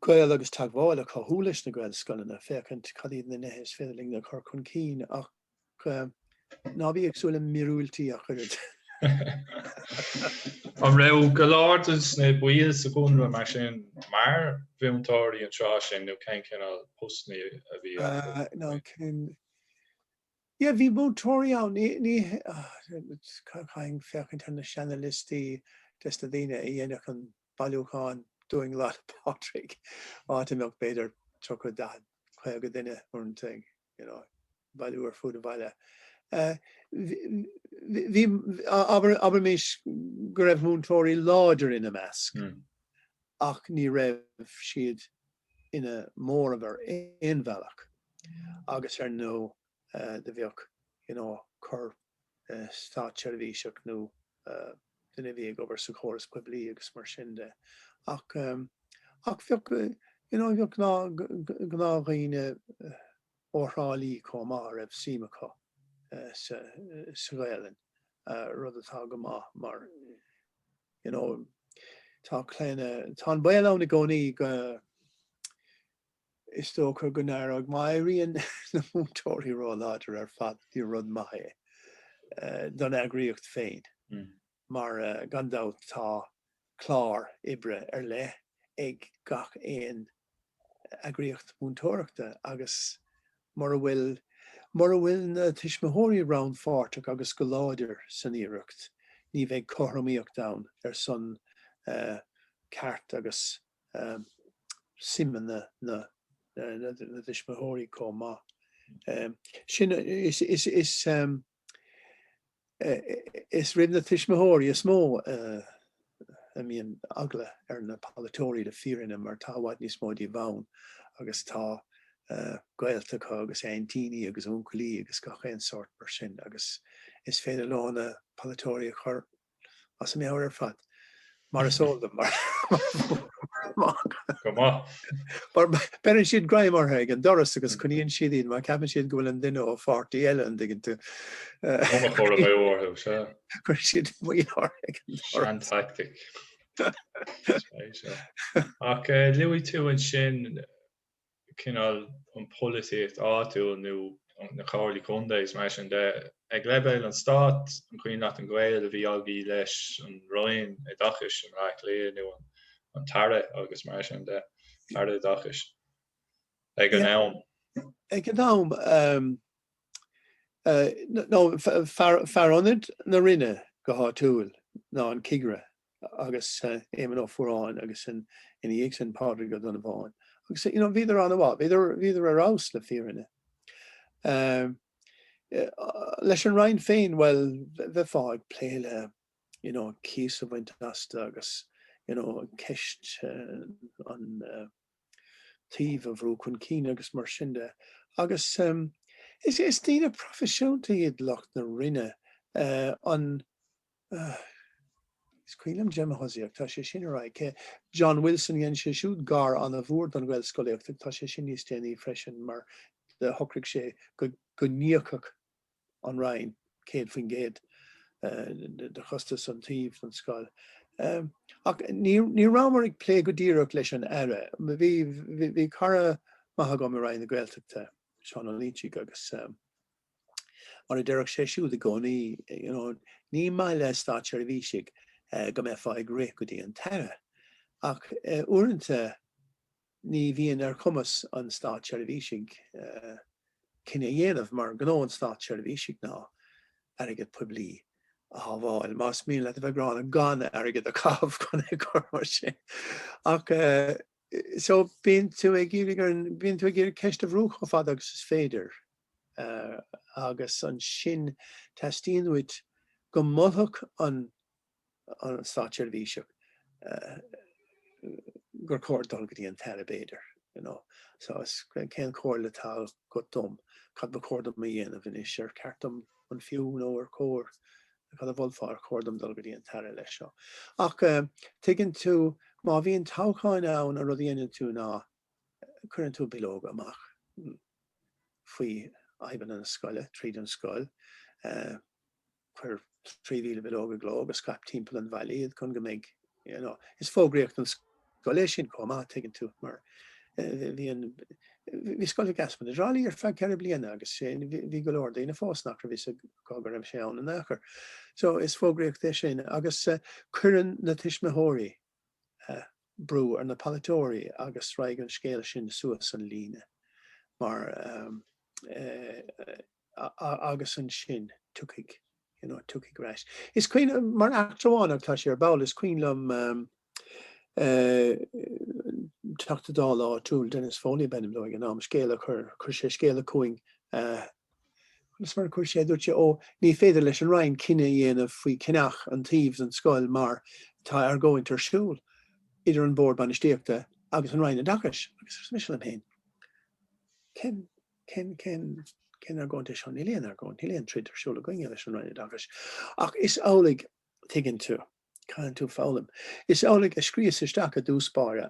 gaol agus teagmháil a chothú leis na Gaelscoileanna, féachaint cad iad na nithe is féidir linn a chur chun cinn ach Ná bí ag súil le míorúiltí a chuirid. An raibh go leor de na baill sa gConradh mar sin mar mhúinteoirí an tráth sin nó cén cineál postanna a bhí acu? Ná cén. Ie, bhí múinteoirí ann. Ní, ní, caithfinn féachaint ar na seanaliostaí des na daoine a dhéanfadh an bailiúchán dúinn Lá 'le Pádraig, áit a mbeadh b'fhéidir 30, 40, 50 duine, uaireanta, ag you know, ag bailiú ar fud an bhaile. Bhí, abraimis go raibh múinteoirí láidir ina measc ach ní raibh siad ina móramh ar aon bhealach agus ar ndóigh do bheadh, you know, cur státseirbhíseach nó duine a bhí ag obair sa chóras poiblí agus mar sin de ach ach bheadh you know bheadh gnáth gnáth dhaoine ó Thrá Lí chomh maith a raibh suim acu sa sa Ghaeilge rud atá go maith mar you know tá clainne tá an baol ann i gcónaí go Is dócha go n-éireodh. Má éiríonn na múinteoirí róláidir ar fad, ní rud maith é don eagraíocht féin mar gan dabht tá clár oibre ar leith ag gach aon eagraíocht mhúinteoireachta agus mura bhfuil, mura bhfuil na tuismitheoirí rannpháirteach agus go láidir san iarracht, ní bheidh cothromaíocht ann ar son ceart agus suimeanna na dtuismitheoirí chomh maith. Sin, is roimh na tuismitheoirí is mó a mbíonn eagla ar na polaiteoirí le fírinne mar tá i bhfad níos mó díobh ann agus tá gaolta acu agus aintíní agus uncailí agus gach aon sórt mar sin agus is féidir leo na polaiteoirí a chur as a meabhair ar fad, mar is eol dom, mar beireann siad greim orthu ag an doras agus coinníonn siad iad mar ceapann siad go bhfuil an duine ón bpáirtí eile an dtuigeann tú. Bunachóra Maigh Eo orthu, sea. Chuir siad moill orthu ag an doras. Sean tactic. Ach luaigh tú ansin cineál an pholaitíocht áitiúil nó na comhairlí contae is mar sin de. Ag leibhéal an stáit, an cuimhin leat an gaol a bhí agaibh leis an Roinn Oideachais i mBleá Cliath nó an Aire agus mar sin de, an tAire Oideachais ag an am? Ag an am, nó Fear Ionaid na Roinne go háitiúil ná an Cigire agus Éamonn Ó Fuaráin agus ina dhiaidh sin Pádraig Ó Donnabháin agus you know bhíodar an-mhaith, bhíodar ar fheabhas le fírinne. Leis an Roinn féin, bhuel, bheifeá ag plé le you know cíos a bhaint astu agus you know an ceist an uh, taobh a bhrú chun cinn agus mar sin de. Agus is daoine proifisiúnta iad lucht na Roinne, an, is cuimhin liom Gemma Hussey ach, tá sé sin ar aghaidh, cé, John Wilson, dhein sé siúd gar an-mhór don Ghaelscolaíocht ach tá sé sin níos déanaí freisin mar shocraigh sé go n-íocfadh an Roinn 100% de chostais an tsuímh den scoil. Ach ní rabhamar ag plé go díreach leis an Aire. Bhí cara maith agam i Roinn na Gaeltachta, Seán Ó Lúitigh, agus mar a deireadh sé siúd i gcónaí, you know, ní maith le státseirbhísigh go mbeifeá ag rith go dtí an tAire. Ach uaireanta, ní bhíonn ar chumas an státseirbhísigh cinneadh a dhéanamh, mar gnó an státseirbhísigh ná airgead poiblí a shábháil, más mian leat a bheith gránna, gan airgead a chaitheamh chun é a chur mar sin. Ach so bíonn tú ag iarraidh ar an, bíonn tú ag iarraidh ceist a bhrú chomh fada agus is féidir agus ansin teastaíonn uait go molfadh an, an státseirbhíseach gur chóir dul go dtí an tAire, b'fhéidir, you know, so is cén chomhairle atá agat dom, cad ba chóir dom a dhéanamh anois, ar cheart dom, an fiú nó ar chóir, cad a mholfá ar chóir dom dul go dtí an tAire leis seo. Ach eh tuigeann tú, má bhíonn toghcháin ann an rud a dhéanann tú ná cuireann tú bileoga amach mm faoi fhadhbanna na scoile, tríd an scoil, eh, Cuir 3,000 bileog i gcló agus scaip timpeall an bhaile iad chun go mbeidh, you know, is fógraíocht an scoil é sin chomh maith, tuigeann tú, mar bhí an, bhí scoil Mhic Easmainn i dTrá Lí ar feadh ceithre bliana agus sé, bhí go leor daoine fós nach raibh fhios acu go raibh sé ann in aon chor. So, is fógraíocht é sin agus cuireann na tuismitheoirí brú ar na polaiteoirí agus raghaidh an scéal sin suas an líne mar, eh, agus ansin tiocfaidh, you know, tiocfaidh ar ais. Is cuimhin, mar eachtra amháin ach tá sé ar ball, is cuimhin liom Teachta Dála áitiúil, Dennis Foley ab ainm dó ag an am, scéal a chuir, chuir sé scéala chugainn, is mar a chuir sé, dúirt sé, ó, ní féidir leis an Roinn cinneadh a dhéanamh faoi cheannach an tsuímh den scoil mar tá argóint ar siúl idir an Bord Bainistíochta agus an Roinn Oideachais. Agus arsa mise liom féin, Cén, cén, cén argóint é seo? Níl aon argóint, níl aon troid ar siúl againne leis an Roinn Oideachais. Ach is amhlaidh, tuigeann tú, caitheann tú foghlaim, is amhlaidh a scríos isteach i dtús báire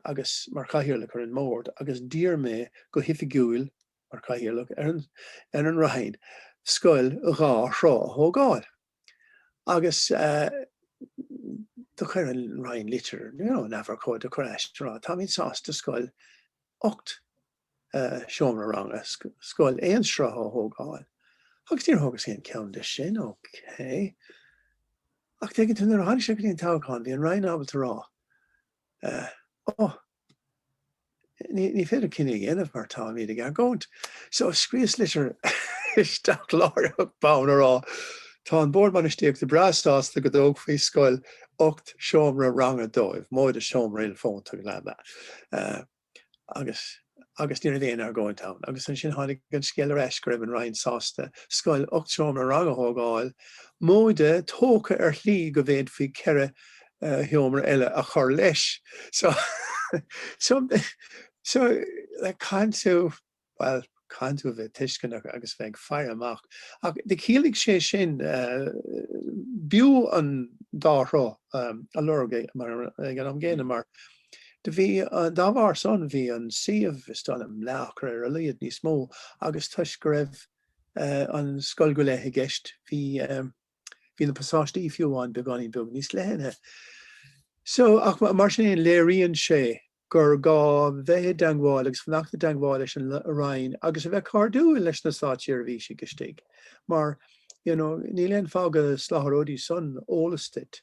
mar chathaoirleach ar an mbord agus d'iarr mé go hoifigiúil, mar chathaoirleach ar an, ar an Roinn, scoil dhá shruth a thógáil. Agus do chuir an Roinn litir, you know, in ábhar cóid, do chuir ar ais, a rá, táimid sásta scoil ocht seomra ranga scoil aon sruth a thógáil agus níor thógas aon cheann de sin, ócé. Ach tuigeann tú nuair a tháinig sé go dtí an toghchán, bhí an Roinn ábalta a rá ó ní féidir cinneadh a dhéanamh mar táimid ag argóint. So scríos litir isteach láithreach bonn a rá tá an Bord Bainistíochta breá sásta go dtógfaí scoil ocht seomra ranga dóibh, móide seomra ilfhónta, glad that. agus agus ní raibh aon argóint ann. Agus ansin tháinig an scéal ar ais go raibh an Roinn sásta scoil ocht seomra ranga a thógáil, móide tógtha ar shlí go bhféadfaí ceithre uh, sheomra eile a chur leis. So, so, so caitheann tú bhuel caitheann tú bheith tuisceanach agus bheith ag faire amach. Ach do chiallaigh sé sin b'fhiú an dá shruth a lorg ag an am gcéanna mar do bhí, dá bharr san, bhí an suíomh, is dóigh liom, leathacra ar a laghad níos mó agus toisc go raibh an scoil go léith i gceist bhí na pasáistí fiú amháin beagáinín beag níos leithne. So, ach mar sin féin, léiríonn sé gur gá bheith i dteangmháil agus fanacht i dteangmháil leis an Roinn agus a bheith cairdiúil leis na státseirbhísigh istigh mar you know níl aon fáth go soláthróidís san eolas duit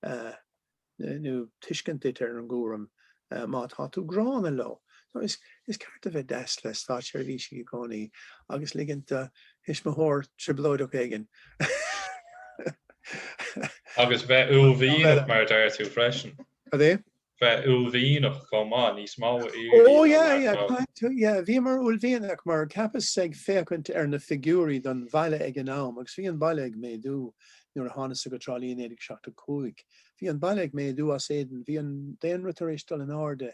nó tuiscint duit ar an gcúram má tá tú gránna leo. So is is ceart a bheith deas le státseirbhísigh i gcónaí agus ligint do thuismitheoir trioblóideach éigin Agus bheith uaillmhianach mar a deir tú freisin. Cad é? bheith uaillmhianach chomh maith, níos mó a iarraidh ná mar atá. Yeah, bhíomar uaillmhianach mar cheapas ag féachaint ar na figiúirí don bhaile ag an am agus bhí an baile ag méadú nuair a thánasa go Trá Lí i 1975. Bhí an baile ag méadú as éadan, bhí an daonra tar éis dul in airde,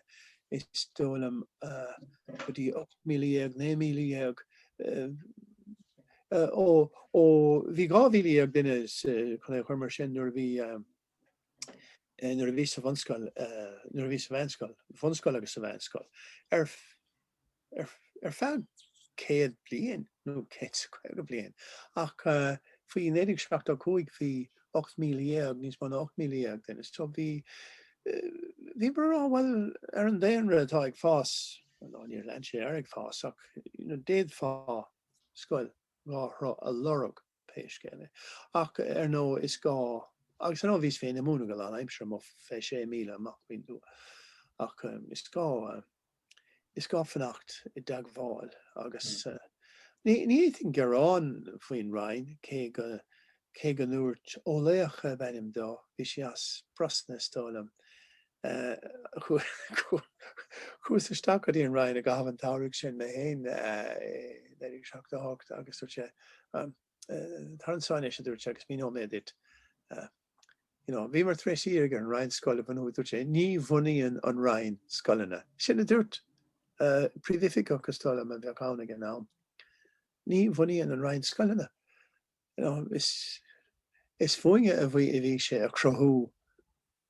is dóigh liom, go dtí 18,000, 19,000. Ó, ó bhí 12,000 duine, chun é a chur mar sin nuair a bhí. nuair a bhíos sa bhunscoil, nuair a bhíos sa mheánscoil, bhunscoil agus sa mheánscoil, ar ar feadh céad bliain nó céad is caoga bliain ach faoi 1975 bhí 18,000, níos mó ná 18,000 duine so bhí bhíomar bhuel ar an daonra atá ag fás, nó níor lean sé ar ag fás ach you know d'fhéadfá scoil dhá shruth a lorg pé scéal é. Ach ar ndóigh, is gá, agus ar ndóigh bhíos féin ag múineadh go lán aimsire amuigh fé sé míle amach faoin dtuath, ach is gá, is gá fanacht i dteagmháil agus ní fhéadfainn gearán faoin Roinn, cé go, cé go ndúirt, Ó Laocha ab ainm dó, bhí sé as Brosna is dóigh liom, Chuas isteach go dtí an Roinn i gcaitheamh an tsamhraidh sin mé féin i 1978 agus dúirt sé, Tar anseo anois, a dúirt sé, agus míneoidh mé duit. Bhíomar tar éis iarraidh ar an Roinn scoil a bhunú, a dúirt sé. Ní bhunaíonn an Roinn scoileanna. Sin a dúirt Príomhoifigeach, is dóigh liom, a bheadh ann ag an am. Ní bhunaíonn an Roinn scoileanna. Is fúinne a bhí a bhí sé a chruthú.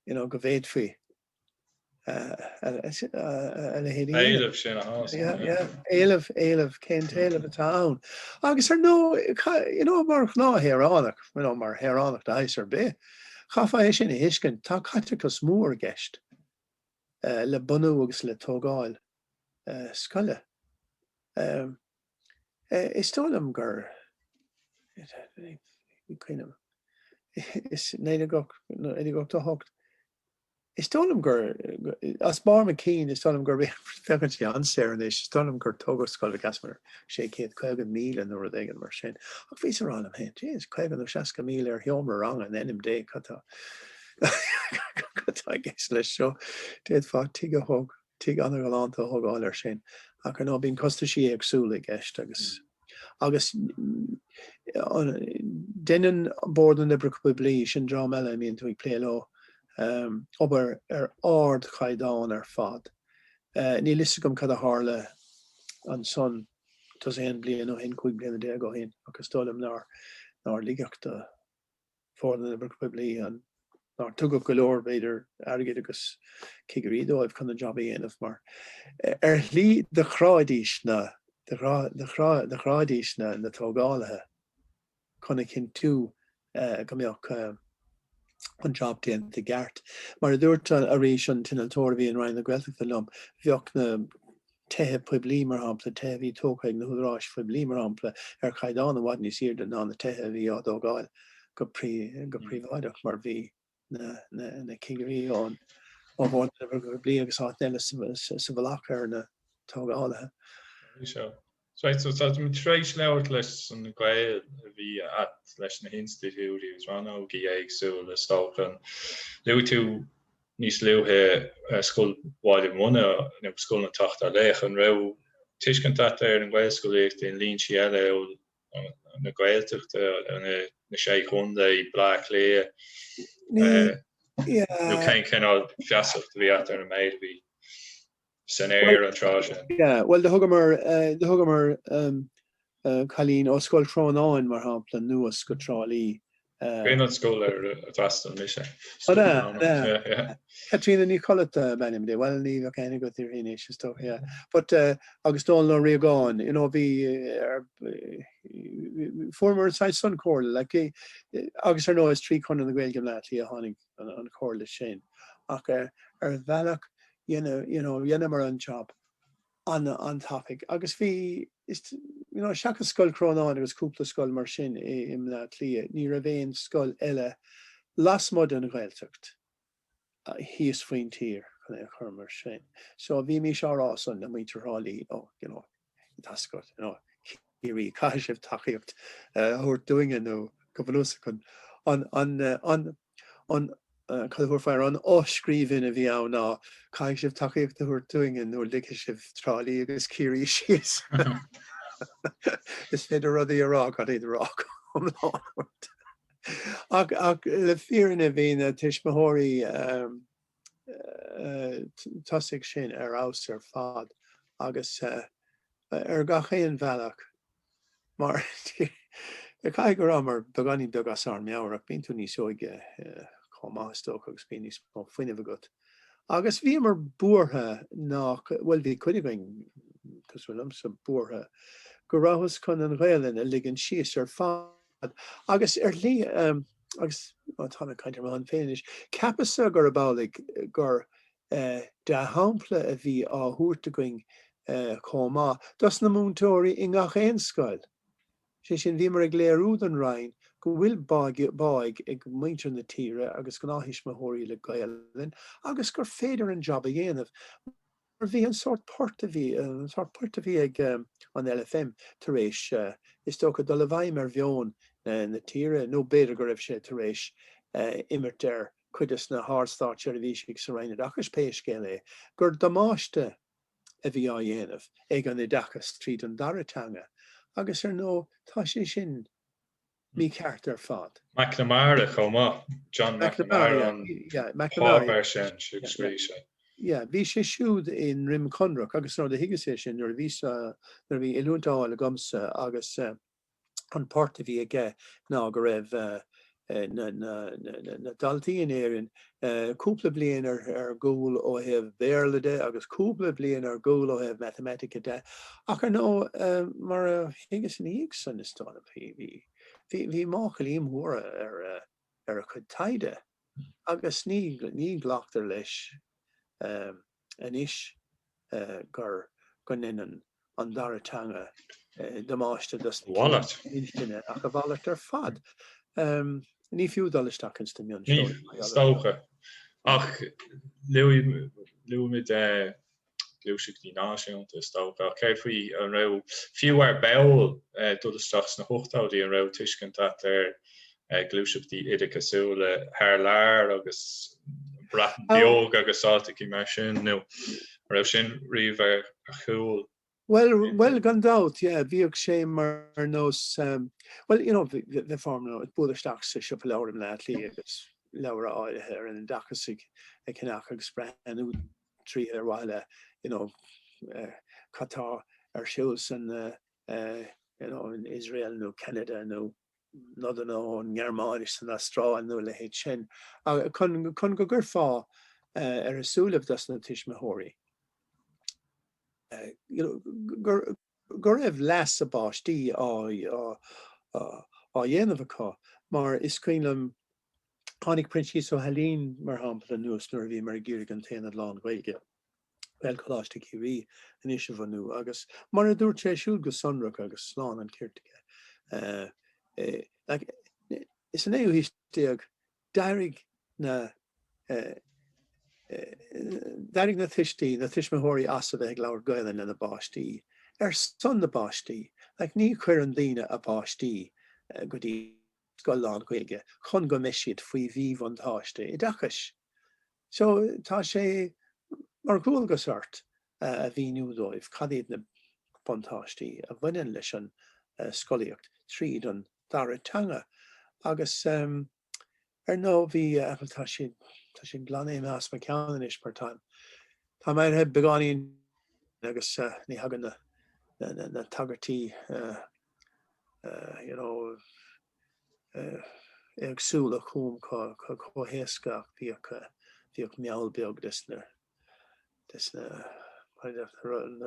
you know, go bhféadfaí. Éileamh sin a thomhas. Yeah, yeah, éileamh, éileamh, cén t-éileamh atá ann? Agus ar ndóigh, you know, mar ghnáthshaoránach, you know, mar shaoránach de shaghas ar bith, chaithfeá é sin a thuiscint, tá caiteachas mór i gceist le bunú agus le tógáil scoile. Is dóigh liom gur i 1988, is dóigh liom gur as barr mo chinn, is dóigh liom gur féachann sé an-saor anois, is dóigh liom gur tógadh scoil an Easbaig, sé chéad caoga míle nó rud éigin mar sin. Ach bhíos ag rá liom féin, Jeez, caoga nó seasca míle ar sheomra ranga in ainm Dé, cad tá cad tá i gceist leis seo? D'fhéadfá tigh a thógáil. tigh an-ghalánta a thógáil air sin, ach ar ndóigh bíonn costaisí éagsúla i gceist agus agus deineann Bord na nOibreacha Poiblí, sin dream eile a mbíonn tú ag plé leo, obair ar ardchaighdeán ar fad. Níl fhios agam cad a tharla ansan tá's agat 11 bliain ó shin, 15 bliana ó shin, ach is dóigh liom nár ligeadh do Bhord na nOibreacha Poiblí nár tugadh go leor, b'fhéidir, airgid agus cigirí dóibh chun an jab a dhéanamh mar ar shlí do chráidís na do chráidís na na tógálaithe chun a chinntiú go mbeadh an jab déanta i gceart. Mar a dúirt arís an t-innealtóir a bhí i Roinn na Gaeltachta liom, bheadh na tithe poiblí, mar shampla, tithe a bhí tógtha ag na húdaráis phoiblí, mar shampla, ar chaighdeán i bhfad níos airde ná na tithe a bhí á dtógáil go príobháideach, mar bhí na cigirí ón mBord Oibreacha Poiblí agus áiteanna eile sa mhullach ar na tógálaithe. Tar éis labhairt leis an ngaol a bhí a't, leis na hinstitiúidí agus ranna éagsúla, is dócha, luaigh tú níos luaithe Scoil Bhaile Munna nó Scoil an tSeachtar Laoch. An raibh tuiscint a't ar an Ghaelscolaíocht i ndlínsí eile amhail na Gaeltachta, na Sé Chontae, Bleá Cliath nó cén cineál feasacht a bhí a't ar an méid a bhí. san aer an tráth sin. Bhuel, do thugamar cailín ó Scoil Chrónáin, mar shampla, anuas go Trá Lí. An chéad scoil ar d'fhreastail mise? Scoil na mBanna. Caitríona Ní Choillte ab ainm di. Bhuel, ní bheadh aithne agat di uirthi anois, is dócha. But, agus Dónall Ó Riagáin, you know, bhí, fuaireamar an saghas sin comhairle, like, agus ar ndóigh is trí Chonradh na Gaeilge i mBleá Cliath a tháinig an chomhairle sin ach ar bhealach you know dheineamar an job an-tapaidh agus bhí you know seachas Scoil Chrónáin agus cúpla scoil mar sin i mBleá Cliath ní raibh aon scoil eile lasmuigh den Ghaeltacht thíos faoin tír chun é a chur mar sin so bhímís á rá san le muintir Thrá Lí oh you know. tá's agat, Ciarraí, caithfidh sibh tacaíocht a thabhairt dúinne nó go bunúsach chun an, an, an, an, cad a thabharfá air, an fhoscríbhinn a bhí ann ná, caithfidh sibh tacaíocht a thabhairt dúinne nó ligfidh sibh Trá Lí agus Ciarraí síos. Is féidir rudaí a rá gan iad a rá go hiomlán ort. Ach, ach le fírinne bhí na tuismitheoirí, tosaigh sin ar fheabhas ar fad agus ar gach aon bhealach mar caithfidh go rabhamar beagáinín beag as ár meabhair ach bíonn tú níos óige chomh maith is dócha agus bíonn níos mó fuinnimh agat agus bhíomar buartha nach bhfuil bhí cuid againn cosúil liomsa buartha go rabhthas chun an Ghaelainn a ligean síos ar fad. fad. Agus ar shlí, agus táim ag caint ar mo shon féin anois, cheapas-sa gurb amhlaidh gur dea-shampla a bhí á thabhairt againn chomh maith dos na múinteoirí i ngach aon scoil. Sé sin, bhíomar ag léiriú don Roinn go bhfuil báidh ag muintir na tíre agus gnáth-thuismitheoirí le Gaelainn agus gur féidir an job a dhéanamh. Mar bhí an sórt poirt a bhí, an sórt poirt a bhí ag an LFM tar éis, is dócha, dul i bhfeidhm ar mheon na tíre, nó b'fhéidir go raibh sé tar éis imirt ar chuid dos na hard-státseirbhísigh sa Roinn Oideachais, pé scéal é, gur damáiste a bhí á dhéanamh ag an oideachas tríd an dara teanga, agus ar ndóigh, tá sé sin mícheart ar fad. McNamara chomh maith, John McNamara an páipéar sin siúd a scrígh sé. Yeah, bhí sé siúd i nDroim Conrach agus nó do thuigeas é sin, nuair a bhí, nuair a bhí oiliúint á fháil agamsa agus an port a bhí aige ná go raibh na daltaí in Éirinn cúpla bliain ar gcúl ó thaobh Béarla de agus cúpla bliain ar gcúl ó thaobh Matamaitice de ach ar ndóigh mar a thuigeas ina dhiaidh san is tá, bhí máchailí móra ar a chuid taighde agus ní glactar leis. anois gur go ndeineann an dara teanga damáiste d'éinne ach a mhalairt ar fad. Ní fiú dul isteach ins na mion, is dócha. Ach luaimid gluaiseachtaí náisiúnta, is dócha, ach céard faoi, an raibh, fiú ar ball, dul isteach sna hochtóidí, an raibh tuiscint a't ar gluaiseachtaí oideachasúla thar lear agus Breatain Bheag agus áiteacha mar sin, nó an raibh sin riamh ar a chúl. Bhuel, gan dabht, yeah, bhíodh sé mar nós, bhuel, you know, bheifeá ag bualadh isteach sa siopa leabhar i mBleá Cliath agus leabhair áirithe ar an oideachas a cheannach agus breathnú tríothu ar mhaithe le, you know, cad tá ar siúl san, you know, in Iosrael nó Ceanada nó. nodanna ón nGearmáin is ón Astráil nó a leithéid sin chun go gcuirfeá ar a súilibh dos na tuismitheoirí go raibh leas a bpáistí á dhéanamh acu mar is cuimhin liom Tháinig Proinsias Ó hAilín, mar shampla, anuas nuair a bhíomar ag iarraidh an t-aonad lán-Ghaeilge, Gaelcholáiste Ciarraí anois, a bhunú agus, mar a dúirt sé siúd go sonrach agus lán an chirt aige, like, sa naoú haois déag, d'éirigh na, d'éirigh na tuistí, na tuismitheoirí as a bheith ag labhairt Gaolainn lena bpáistí, ar son na bpáistí, like, ní chuirfeadh daoine a bpáistí go dtí. scoil lán-Ghaeilge chun go mbeidh siad faoi mhíbhuntáiste oideachais. So, tá sé mar dhualgas ort a mhíniú dóibh cad iad na buntáistí a bhaineann leis an scolaíocht tríd an dara teanga agus ar ndóigh bhí, tá, tá sé glan as mo cheann anois mar táim, tá mé éirithe beagáinín agus ní thagann na tagairtí you know, éagsúla chugam chomh héasca ach bhíodh, bhíodh meall beag des na, des na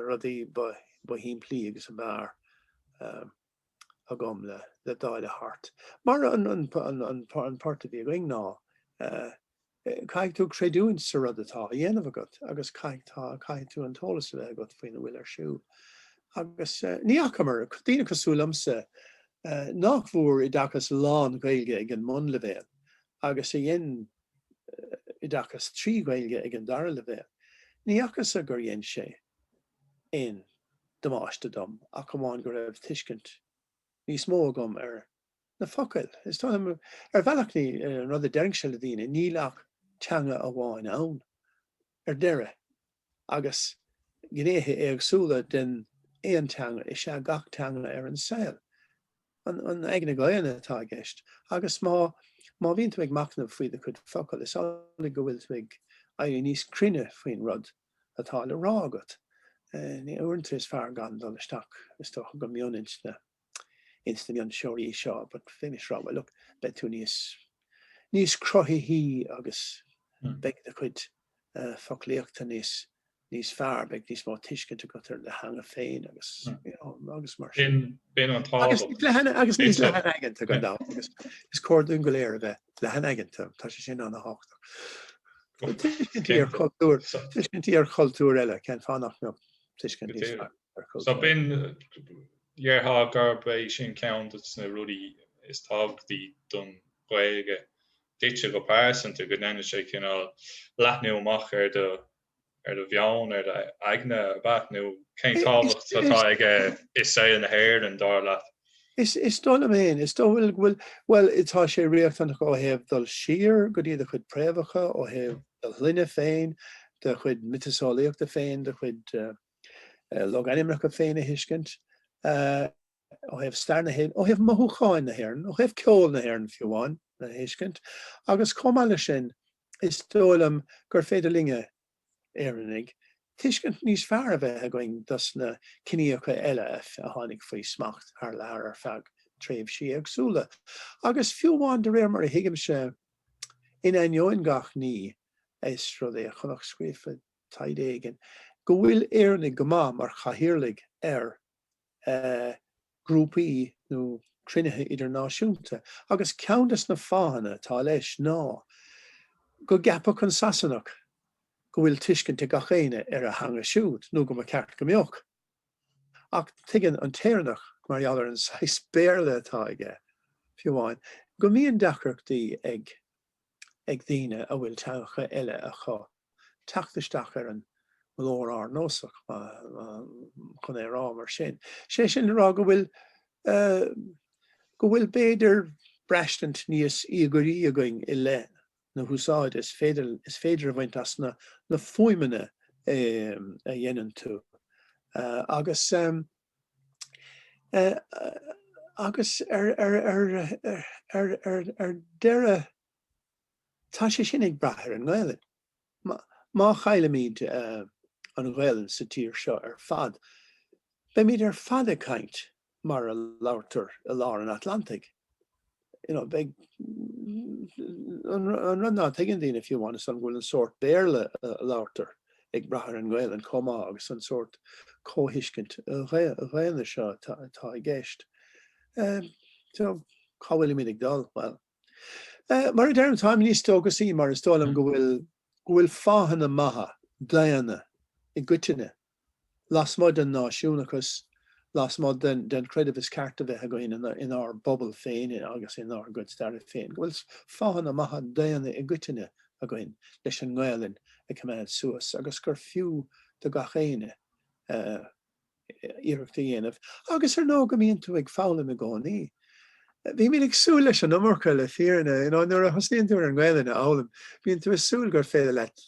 rudaí ba shimplí agus ab fhearr agam le, le dáileadh thart. Mar an port a bhí againn ná, Caithfidh tú creidiúint sa rud atá á dhéanamh agat agus caithfidh tú, caithfidh tú an t-eolas a bheith agat faoina bhfuil ar siúl. Agus ní fhacamar, daoine cosúil liomsa, nach bhfuair oideachas lán-Ghaeilge ag an mbunleibhéal agus a dhein oideachas trí Ghaeilge ag an dara leibhéal, ní fhacasa gur dhein sé aon damáiste dom ach amháin go raibh tuiscint níos mó agam ar na focail. Is dóigh liom, ar bhealach, an rud a deirfinnse le daoine, níl ach teanga amháin ann, ar deireadh, agus gnéithe éagsúla den aon teanga is ea gach teanga ar an saol. An aigne dhaonna atá i gceist, agus má, má bhíonn tú ag machnamh faoi do chuid focal, is amhlaidh go bhfuil tú ag éirí níos cruinne faoin rud atá le rá agat. Uaireanta is fearr gan dul isteach, is dócha, go mion-intinne. ins na mionseoirí seo, but faoi mar is, abair, look, beidh tú níos níos cruthaithí agus beidh do chuid foclaíochta níos níos fearr, beidh níos mó tuiscint agat ar do theanga féin agus you know agus mar sin. B'in an tábhacht. Agus, agus níos leathanaigeanta gan dabht agus is cóir dúinn go léir a bheith leathanaigeanta, tá sé sin an-tábhachtach. Bhfuil tuiscintí ar chultúir tuiscintí ar chultúr eile cén fáth nach mbeadh tuiscint níos fearr ar chultúir. So b'in Déarfá gurb é sin ceann des na rudaí is tábhachtaí don Ghaeilge duitse go pearsanta, go ndéanann sé cineál leathnú amach ar do, ar do mheon, ar do aigne, ab ea? Nó cén tábhacht atá aige i saol na hÉireann, dar leat? Is dóigh liom féin, is dóigh liom go bhfuil, bhuel, tá sé riachtanach ó thaobh dul siar go dtí do chuid préamhacha, ó thaobh do shloinne féin, do chuid miotaseolaíochta féin, do chuid. logainmneacha féin a thuiscint, ó thaobh stair na hÉireann, ó thaobh mothúcháin na hÉireann, ó thaobh ceol na hÉireann fiú amháin a thuiscint agus chomh maith leis sin is dóigh liom gur féidir linn, Éireannaigh, tuiscint níos fearr a bheith againn dos na ciníocha eile a tháinig faoi smacht thar lear ar feadh tréimhsí éagsúla agus fiú amháin de réir mar a thuigimse, in ainneoin gach ní, is rud é a chonac scríofa. taighde éigin, go bhfuil Éireannaigh go maith mar chathaoirligh ar ghrúpaí nó cruinnithe idirnáisiúnta agus ceann dos na fáthanna atá leis ná go gceapfadh an Sasanach go bhfuil tuiscint ag gach éinne ar a theanga siúd, nó go mba cheart go mbeadh. Ach tuigeann an tÉireannach, mar gheall ar an saghas Béarla atá aige, fiú amháin, go mbíonn deacrachtaí ag. ag daoine a bhfuil teangacha eile acu teacht isteach ar an nglór ardnósach, chun é a rá mar sin. Sé sin le rá go bhfuil go bhfuil b'fhéidir braistint níos íogairí againn i leith na húsáide is féidir is féidir a bhaint as na fuaimeanna a dhéanann tú agus Agus ar deireadh, tá sé sin ag brath ar an nGaelainn. Má chaillimid an Ghaelainn sa tír seo ar fad, beimid ar fad ag caint mar a labhartar i lár an Atlantaigh. you know, beidh an rud ná tuigeann daoine fiú amháin is dóigh liom go bhfuil an sórt Béarla a labhartar ag brath ar an nGaelainn chomh maith agus an sórt comhthuiscint dhaonna seo atá i gceist. So, cá bhfuilimid ag dul? Bhuel, mar a deirim, táim níos dóchasaí mar is dóigh liom go bhfuil go bhfuil fáthanna maithe daonna i gcoitinne lasmuigh den náisiúnachas, lasmuigh den chreideamh is ceart a bheith againn inár bpobal féin agus inár gcuid staire féin, go bhfuil fáthanna maithe daonna i gcoitinne againn leis an nGaelainn a choimeád suas agus gur fiú do gach éinne iarracht a dhéanamh agus ar ndóigh go mbíonn tú ag foghlaim i gcónaí. Bhímid ag súil leis an iomarca le fírinne. Nuair a thosnaíonn tú ar an nGaelainn a fhoghlaim bíonn tú ag súil gur féidir leat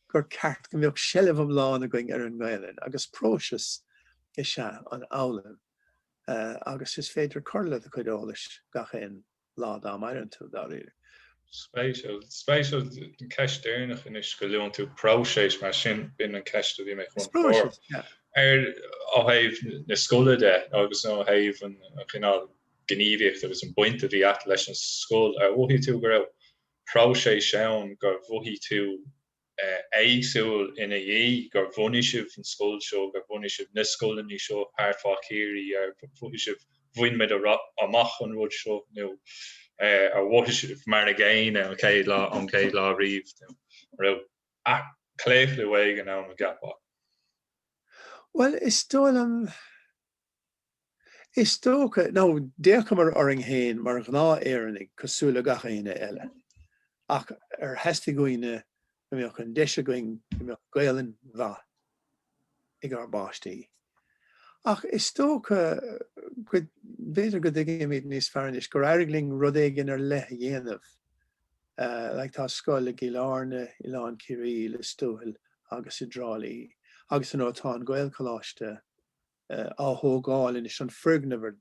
gur ceart go mbeadh seilbh iomlán againn ar an nGaelainn agus próiseas is ea an fhoghlaim agus is féidir cur le do chuid eolais gach aon lá dá maireann tú, dáiríre. Spéisiúil. Spéisiúil an ceist deireanach anois, go luann tú próiseas mar sin b'in an cheist a bhí mé chun a chur ar ó thaobh na scoile de agus ó thaobh an chineál gníomhaíocht agus an baint a bhí agat leis an scoil. Ar mhothaigh tú go raibh próiseas ann gur mhothaigh tú éagsúil ina dhiaidh, gur bhunaigh sibh an scoil seo, gur bhunaigh sibh na scoileanna seo thart fá Chiarraí, ar mhothaigh sibh bhain muid amach an rud seo nó ar mhothaigh sibh mar a gcéanna an chéad lá an chéad lá riamh nó an raibh claochlú éigin ann a gceapfá? Bhuel, is dóigh liom Is dócha, nó d'fhéachamar orainn féin mar ghnáth-Éireannaigh cosúil le gach éinne eile, ach ar theastaigh uainn go mbeadh an deis againn go mbeadh Gaelainn mhaith ag ár bpáistí. Ach is dócha go, b'fhéidir go dtuigimid níos fearr anois gur éirigh linn rud éigin ar leith a dhéanamh. Like, tá scoil i gCill Airne, Oileán Ciarraí, Lios Tuathail agus i dTrá Lí, agus you know tá an Gaelcholáiste, á thógáil anois, an foirgneamh ar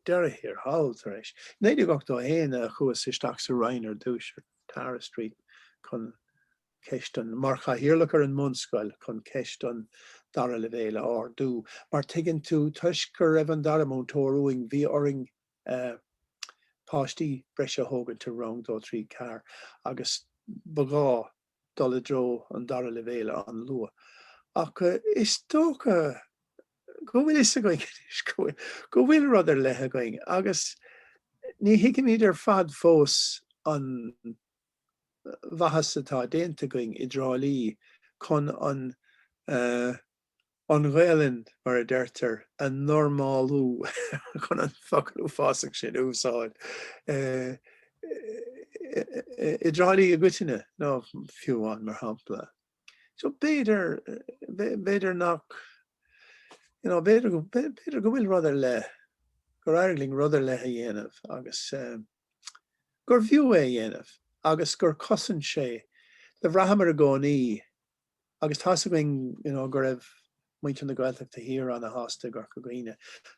deireadh thiar thall, tar éis 1981, a chuas isteach sa Roinn ar dtúis, ar Tara Street, chun ceist an, mar Chathaoirleach ar an mBunscoil, chun ceist an dara leibhéil a ardú. Mar tuigeann tú, toisc go raibh an dara múinteoir uainn, bhí orainn páistí breise a thógaint i Rang Dó Trí Ceathair agus ba ghá, dul i dtreo an dara leibhéal an-luath. Ach is dócha go bhfuil fhios againn go bhfuil rud ar leith againn agus ní thuigimid ar fad fós an mhaitheas atá déanta againn i dTrá Lí chun an an Ghaelainn, mar a deirtear, a normálú, chun an focal uafásach sin a úsáid, i dTrá Lí i gcoitinne, nó fiú amháin mar shampla. So b'fhéidir, b'fhéidir nach, you know, b'fhéidir, b'fhéidir go bhfuil rud ar leith, gur éirigh linn rud ar leith a dhéanamh agus um, gur bhfiú é a dhéanamh agus gur chosain sé, do bhraitheamar i gcónaí, agus tá's againn you know go raibh muintir na Gaeltachta thiar ana-shásta i gCorca Dhuibhne.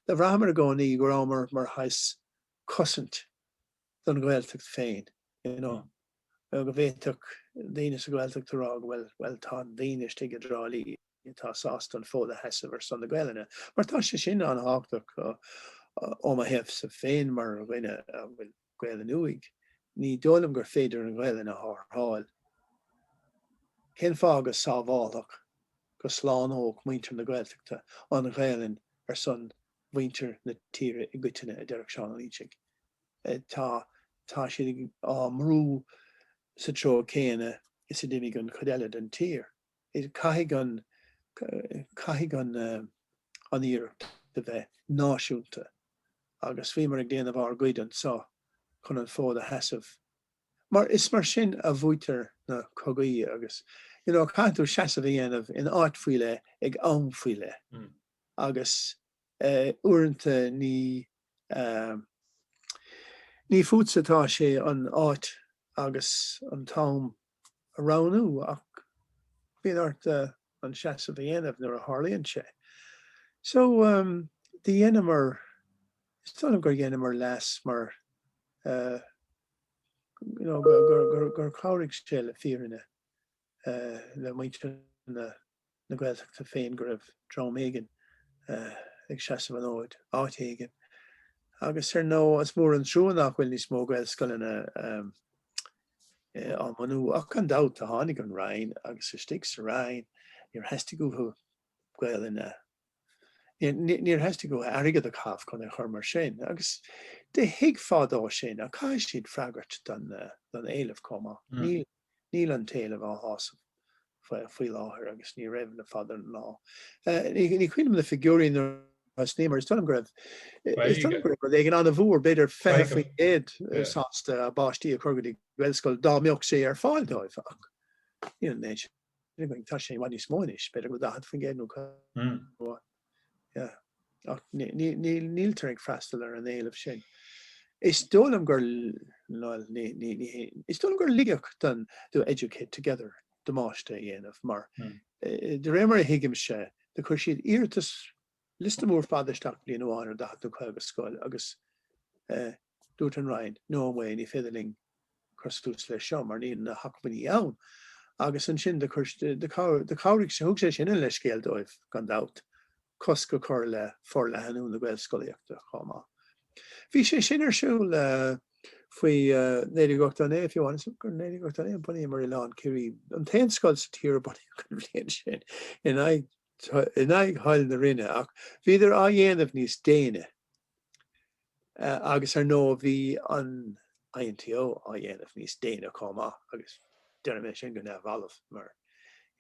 Do bhraitheamar i gcónaí go rabhamar mar shaghas cosaint don Ghaeltacht féin you know you know go bhféadfadh daoine sa Ghaeltacht a rá bhuel tá daoine istigh i dTrá Lí atá sásta an fód a sheasamh ar son na Gaelainne mar tá sé sin ana-thábhachtach ó mo thaobhsa féin mar dhuine a bhfuil Gaelainn uaidh. Ní dóigh liom gur féidir an Ghaelainn a tharrtháil. Cén fáth go sábhálfadh, go slánódh muintir na Gaeltachta an Ghaelainn ar son mhuintir na tíre i gcoitinne, i ndeireadh thiar nuair ná fuil sí uathu. Tá, tá siad á mbrú sa treo céanna is a d'imigh an chuid eile den tír. Caithfidh an caithfidh an an iarracht a bheith náisiúnta agus bhíomar ag déanamh ár gcuid anseo chun an fód a sheasamh mar is mar sin a bhuaitear na cogaí agus you know caithfidh tú seasamh a dhéanamh in áit faoi leith ag am faoi leith agus uaireanta ní ní fútsa atá sé an áit agus an t-am a roghnú ach bíonn ort an seasamh a dhéanamh nuair a tharlaíonn sé. So dhéanamar, is dóigh liom gur dhéanamar leas mar you know gur chabhraigh sé le fírinne le muintir na. na Gaeltachta féin go raibh dream éigin ag seasamh an fhóid áit éigin agus ar ndóigh is mór an trua nach bhfuil níos mó Gaelscoileanna á mbunú ach gan dabht tháinig an Roinn agus istigh sa Roinn níor theastaigh uathu Gaolainne Níor theastaigh uathu airgead a chaitheamh chun é a chur mar sin agus do thuig fadó sin ach caithfidh siad freagairt don éileamh chomh maith. Níl an t-éileamh á shásamh faoi láthair agus ní raibh le fada an lá. Ní chuimhním na figiúirí nuair a thosnaím mar is dóigh liom go raibh rud éigin an-mhór, b'fhéidir 20%, sásta a bpáistí a chur go dtí Gaelscoil dá mbeadh sé ar fáil dóibh ach. Níl, tá sé i bhfad níos mó anois, b'fhéidir go bhfuil 40% nó comh maith. Yeah. Ach níltear ag freastal ar an éileamh sin. Is dóigh liom gur, bhuel, ní, ní, ní hé, is dóigh liom gur leigheadh don do Educate Together damáiste a dhéanamh mar, de réir mar a thuigimse, do chuir siad iarratas, liosta mór fada isteach bliain amháin ar 40 nó 50 scoil agus, eh, Dúirt an Roinn, No way, ní féidir linn cur tús leis seo mar níl na hacmhainní ann. Agus ansin do chuir, do chabhraigh, thug sé sin an leithscéal dóibh gan dabht, cosc a chur le forleathnú na Gaelscolaíochta chomh maith. Bhí sé sin ar siúl faoi 1989, fiú amháin, is gur 1989 a bhunaíomar Oileán Ciarraí, an t-aon scoil sa tír a bunaíodh an bhliain sin, in aghaidh. in aghaidh thoil na Roinne, ach bhíodar á dhéanamh níos déine agus ar ndóigh bhí an INTO á dhéanamh níos déine chomh maith agus déarfaidh mé sin go neamhbhalbh mar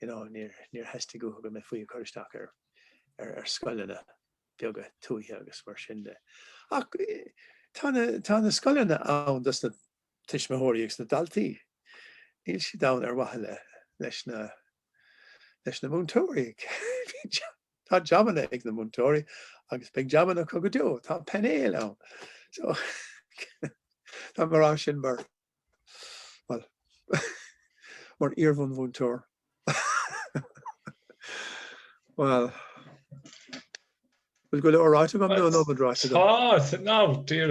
you know níor theastaigh uathu go mbeifí ag cur isteach ar ar scoileanna beaga tuaithe agus mar sin de. Ach tá na scoileanna ann dos na tuismitheoirí agus na daltaí. Níl siad ann ar mhaithe leis na leis na múinteoirí. Tá jabanna ag na múinteoirí agus beidh jabanna acu go deo. Tá painéil ann. So, tá mé rá sin mar, well, mar iarbhunmhúinteoir. Well, bhfuil go leor ráite agam nó an iomarca ráite agam? Tá, no, dear.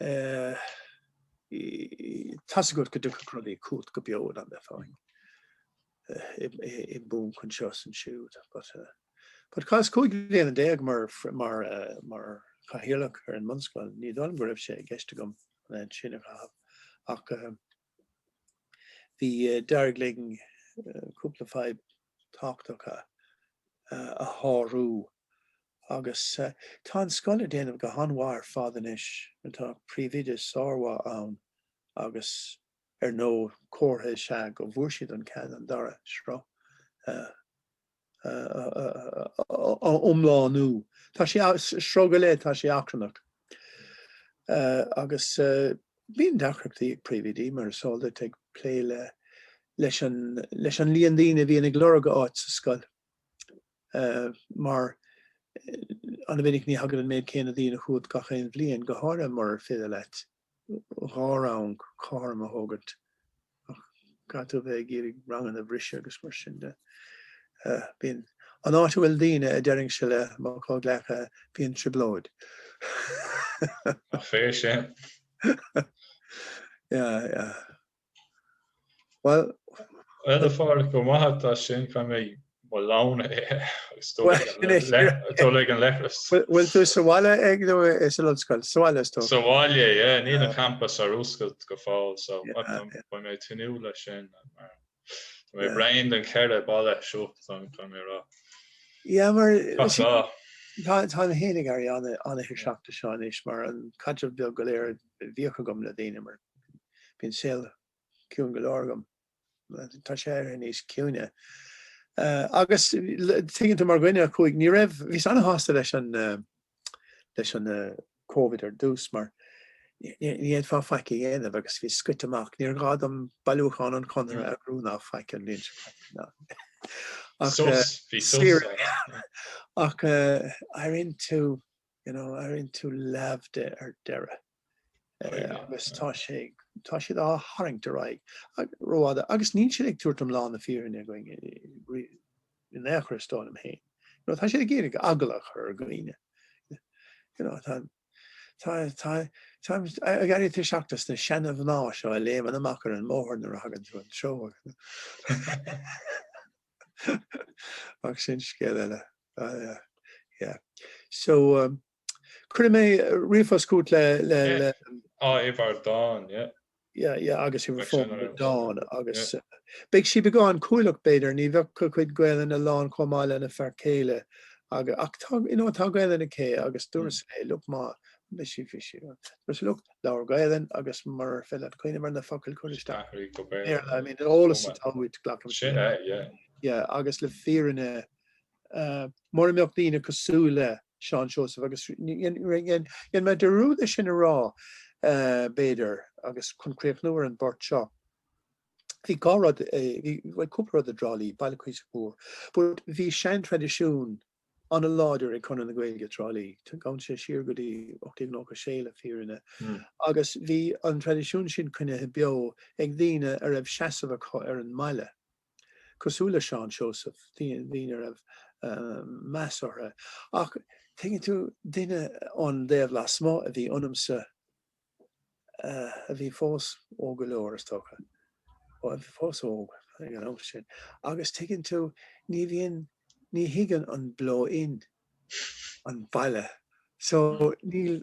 Tá a fhios agat go dtiocfadh rudaí chugat go beo ar an bhfón i mbun chun seo sin siúd. But tar éis 15 bliana mar Chathaoirleach ar an mbunscoil, ní dóigh liom go raibh sé i gceist agam an fhaid sin a chaitheamh ach bhí d'éirigh linn cúpla fadhb tábhachtacha a shárú agus tá an scoil ag déanamh go han-mhaith ar fad anois. Tá príomhoide sármhaith ann agus ar ndóigh comhartha is ea go bhfuair siad an cead an dara sruth a iomlánú. Tá sé sruth go leith, tá sé achrannach agus bíonn deacrachtaí ag príomhoidí, mar is eol duit, ag plé leis an líon daoine a bhíonn ag lorg áit sa scoil. mar an-mhinic ní thagann an méid céanna daoine chugat gach aon bhliain, go háirithe murar féidir leat dhá rang cothrom a thógaint, ach caithfidh tú a bheith ag iarraidh ranganna a bhriseadh agus mar sin de. Bíonn an áit a bhfuil daoine, a deirinnse le mo chomhghleacaithe, bíonn trioblóid. Ach fair play. Sea, Bhuel, a Phádraic, go raibh maith agat as sin. Caithfidh mé m'anáil agus dul ag an leithreas. Bhfuil tú sa bhaile nó san ollscoil? Sa bhaile atá tú? Sa bhaile, yeah. Níl an campas ar oscailt go fóill so beidh mé ag tnúth leis sin. Tá mé bréan den cheithre bhalla seo, caithfidh mé a rá. Yeah, mar is í, tháinig athrú ar na rudaí seo anois mar an caidreamh beag go léir a bhíodh agam le daoine mar Bíonn saol ciúin go leor agam. Tá sé éirithe níos ciúine. Agus tuigeann tú mar dhuine a chuaigh, ní raibh, bhíos an-sásta leis an, leis an Covid ar dtús mar ní fhéadfá faic a dhéanamh agus bhíos scoite amach. Níor ghá dom bailiúchán an Chonartha a bhrú ná faic an bhliain seo caite ná. Ach, Sos, bhí sos. Saor in aisce. Ach, airíonn tú, you know, éiríonn tú leamh de ar deireadh agus tá sé tá siad á tharraingt ar aghaidh rófhada agus níl siad ag tabhairt iomlán na fírinne dúinn in aon chor is dóigh liom féin. You know, tá siad ag iarraidh eagla a chur ar dhaoine. You know, tá tá tá tá d'éirí tuirseach des na seana mhná seo a léimeann amach ar an mbóthar nuair a thagann tú an treo. Ach sin scéal eile. Yeah. So, um, cuirfidh mé ríomhphost chugat le, le, yeah. le... Á, uimhir Dawn, yeah. Yeah, yeah, agus uimhir fón Dawn, agus... Yeah. Uh, beidh sí beagán cúthaileach b'fhéidir, ní bheadh a cuid Gaelainne lán chomh maith lena fear céile. Agus, ach tá, you know, tá Gaelainn aici, agus dúras léi, look, má, más féidir, just look, Labhair Gaelainn agus murar féidir leat cuimhneamh ar na focail cuir isteach Béarla. I mean an eolas atá uait glacaim sin é yeah. Yeah agus le fírinne mura mbeadh daoine cosúil le Seán Seosamh agus dhéan mé dearúd é sin a rá b'fhéidir agus chun críochnú ar an bpáirt seo bhí dhá rud bhí cúpla rud i dTrá Lí, baile cuíosach mhór but bhí seantraidisiún an-láidir ag Conradh na Gaeilge, Trá Lí. Téann sé siar go dtí 1896 le fírinne agus bhí an traidisiún sin coinnithe beo ag daoine a raibh seasamh acu ar an mbaile, cosúil le Seán Seosamh, daoine a raibh meas orthu. Ach tuigeann tú, duine ón dtaobh lasmuigh a bhí ionamsa. a bhí fós óg go leor, is dócha. Ó, a bhí fós óg ag an am sin. Agus tuigeann tú, ní bhíonn, ní thuigeann an blow-in an baile. So, níl,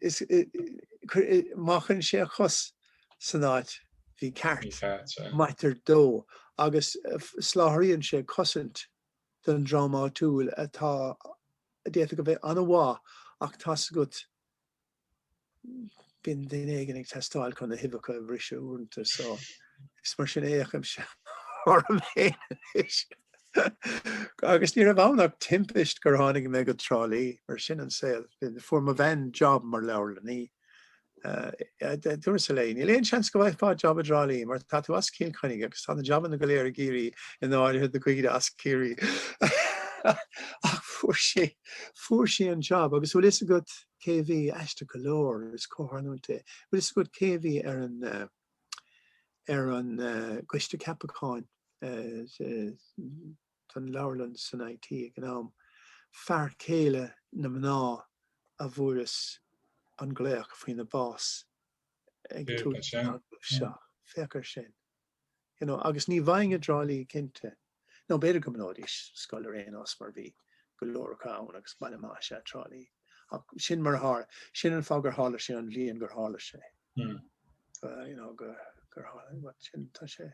is, má chuireann sé a chos san áit mhícheart, maitear dó, agus soláthraíonn sé cosaint don dream áitiúil atá, d'fhéadfadh a bheith an-mhaith ach tá a fhios agat, bíonn duine éigin ag teastáil chun na huibheacha a bhriseadh uaireanta so is mar sin a chímse orm féin anois. Agus ní raibh ann ach timpist gur tháinig mé go Trá Lí, mar sin an saol. Fuair mo bhean job mar leabharlannaí Dúras léi, Níl aon seans go bhfaighfeá jab i dTrá Lí mar tá tú as Cill Chainnigh agus tá na jabanna go léir i gCiarraí, in áirithe do dhaoine as Ciarraí. Ach fuair sí, fuair sí an jab agus bhfuil fhios agat cé a bhí aisteach go leor, is comhtharlúint é, bhfuil fhios agat cé a bhí ar an, ar an gCoiste Ceapacháin, don leabharlann san IT ag an am, fear céile na mná a bhfuaireas an glaoch faoina bás ag a tús seo. Féach ar sin. You know, agus ní bhfaighinn i dTrá Lí cinnte, now, b'fhéidir go mbunóidís scoil ar aon nós mar bhí go leor acu ann agus baile maith is ea Trá Lí. Ach sin mar a tharla. Sin an fáth gur tharla sé an bhliain gur tharla sé. You know, gur tharla, sin, tá sé.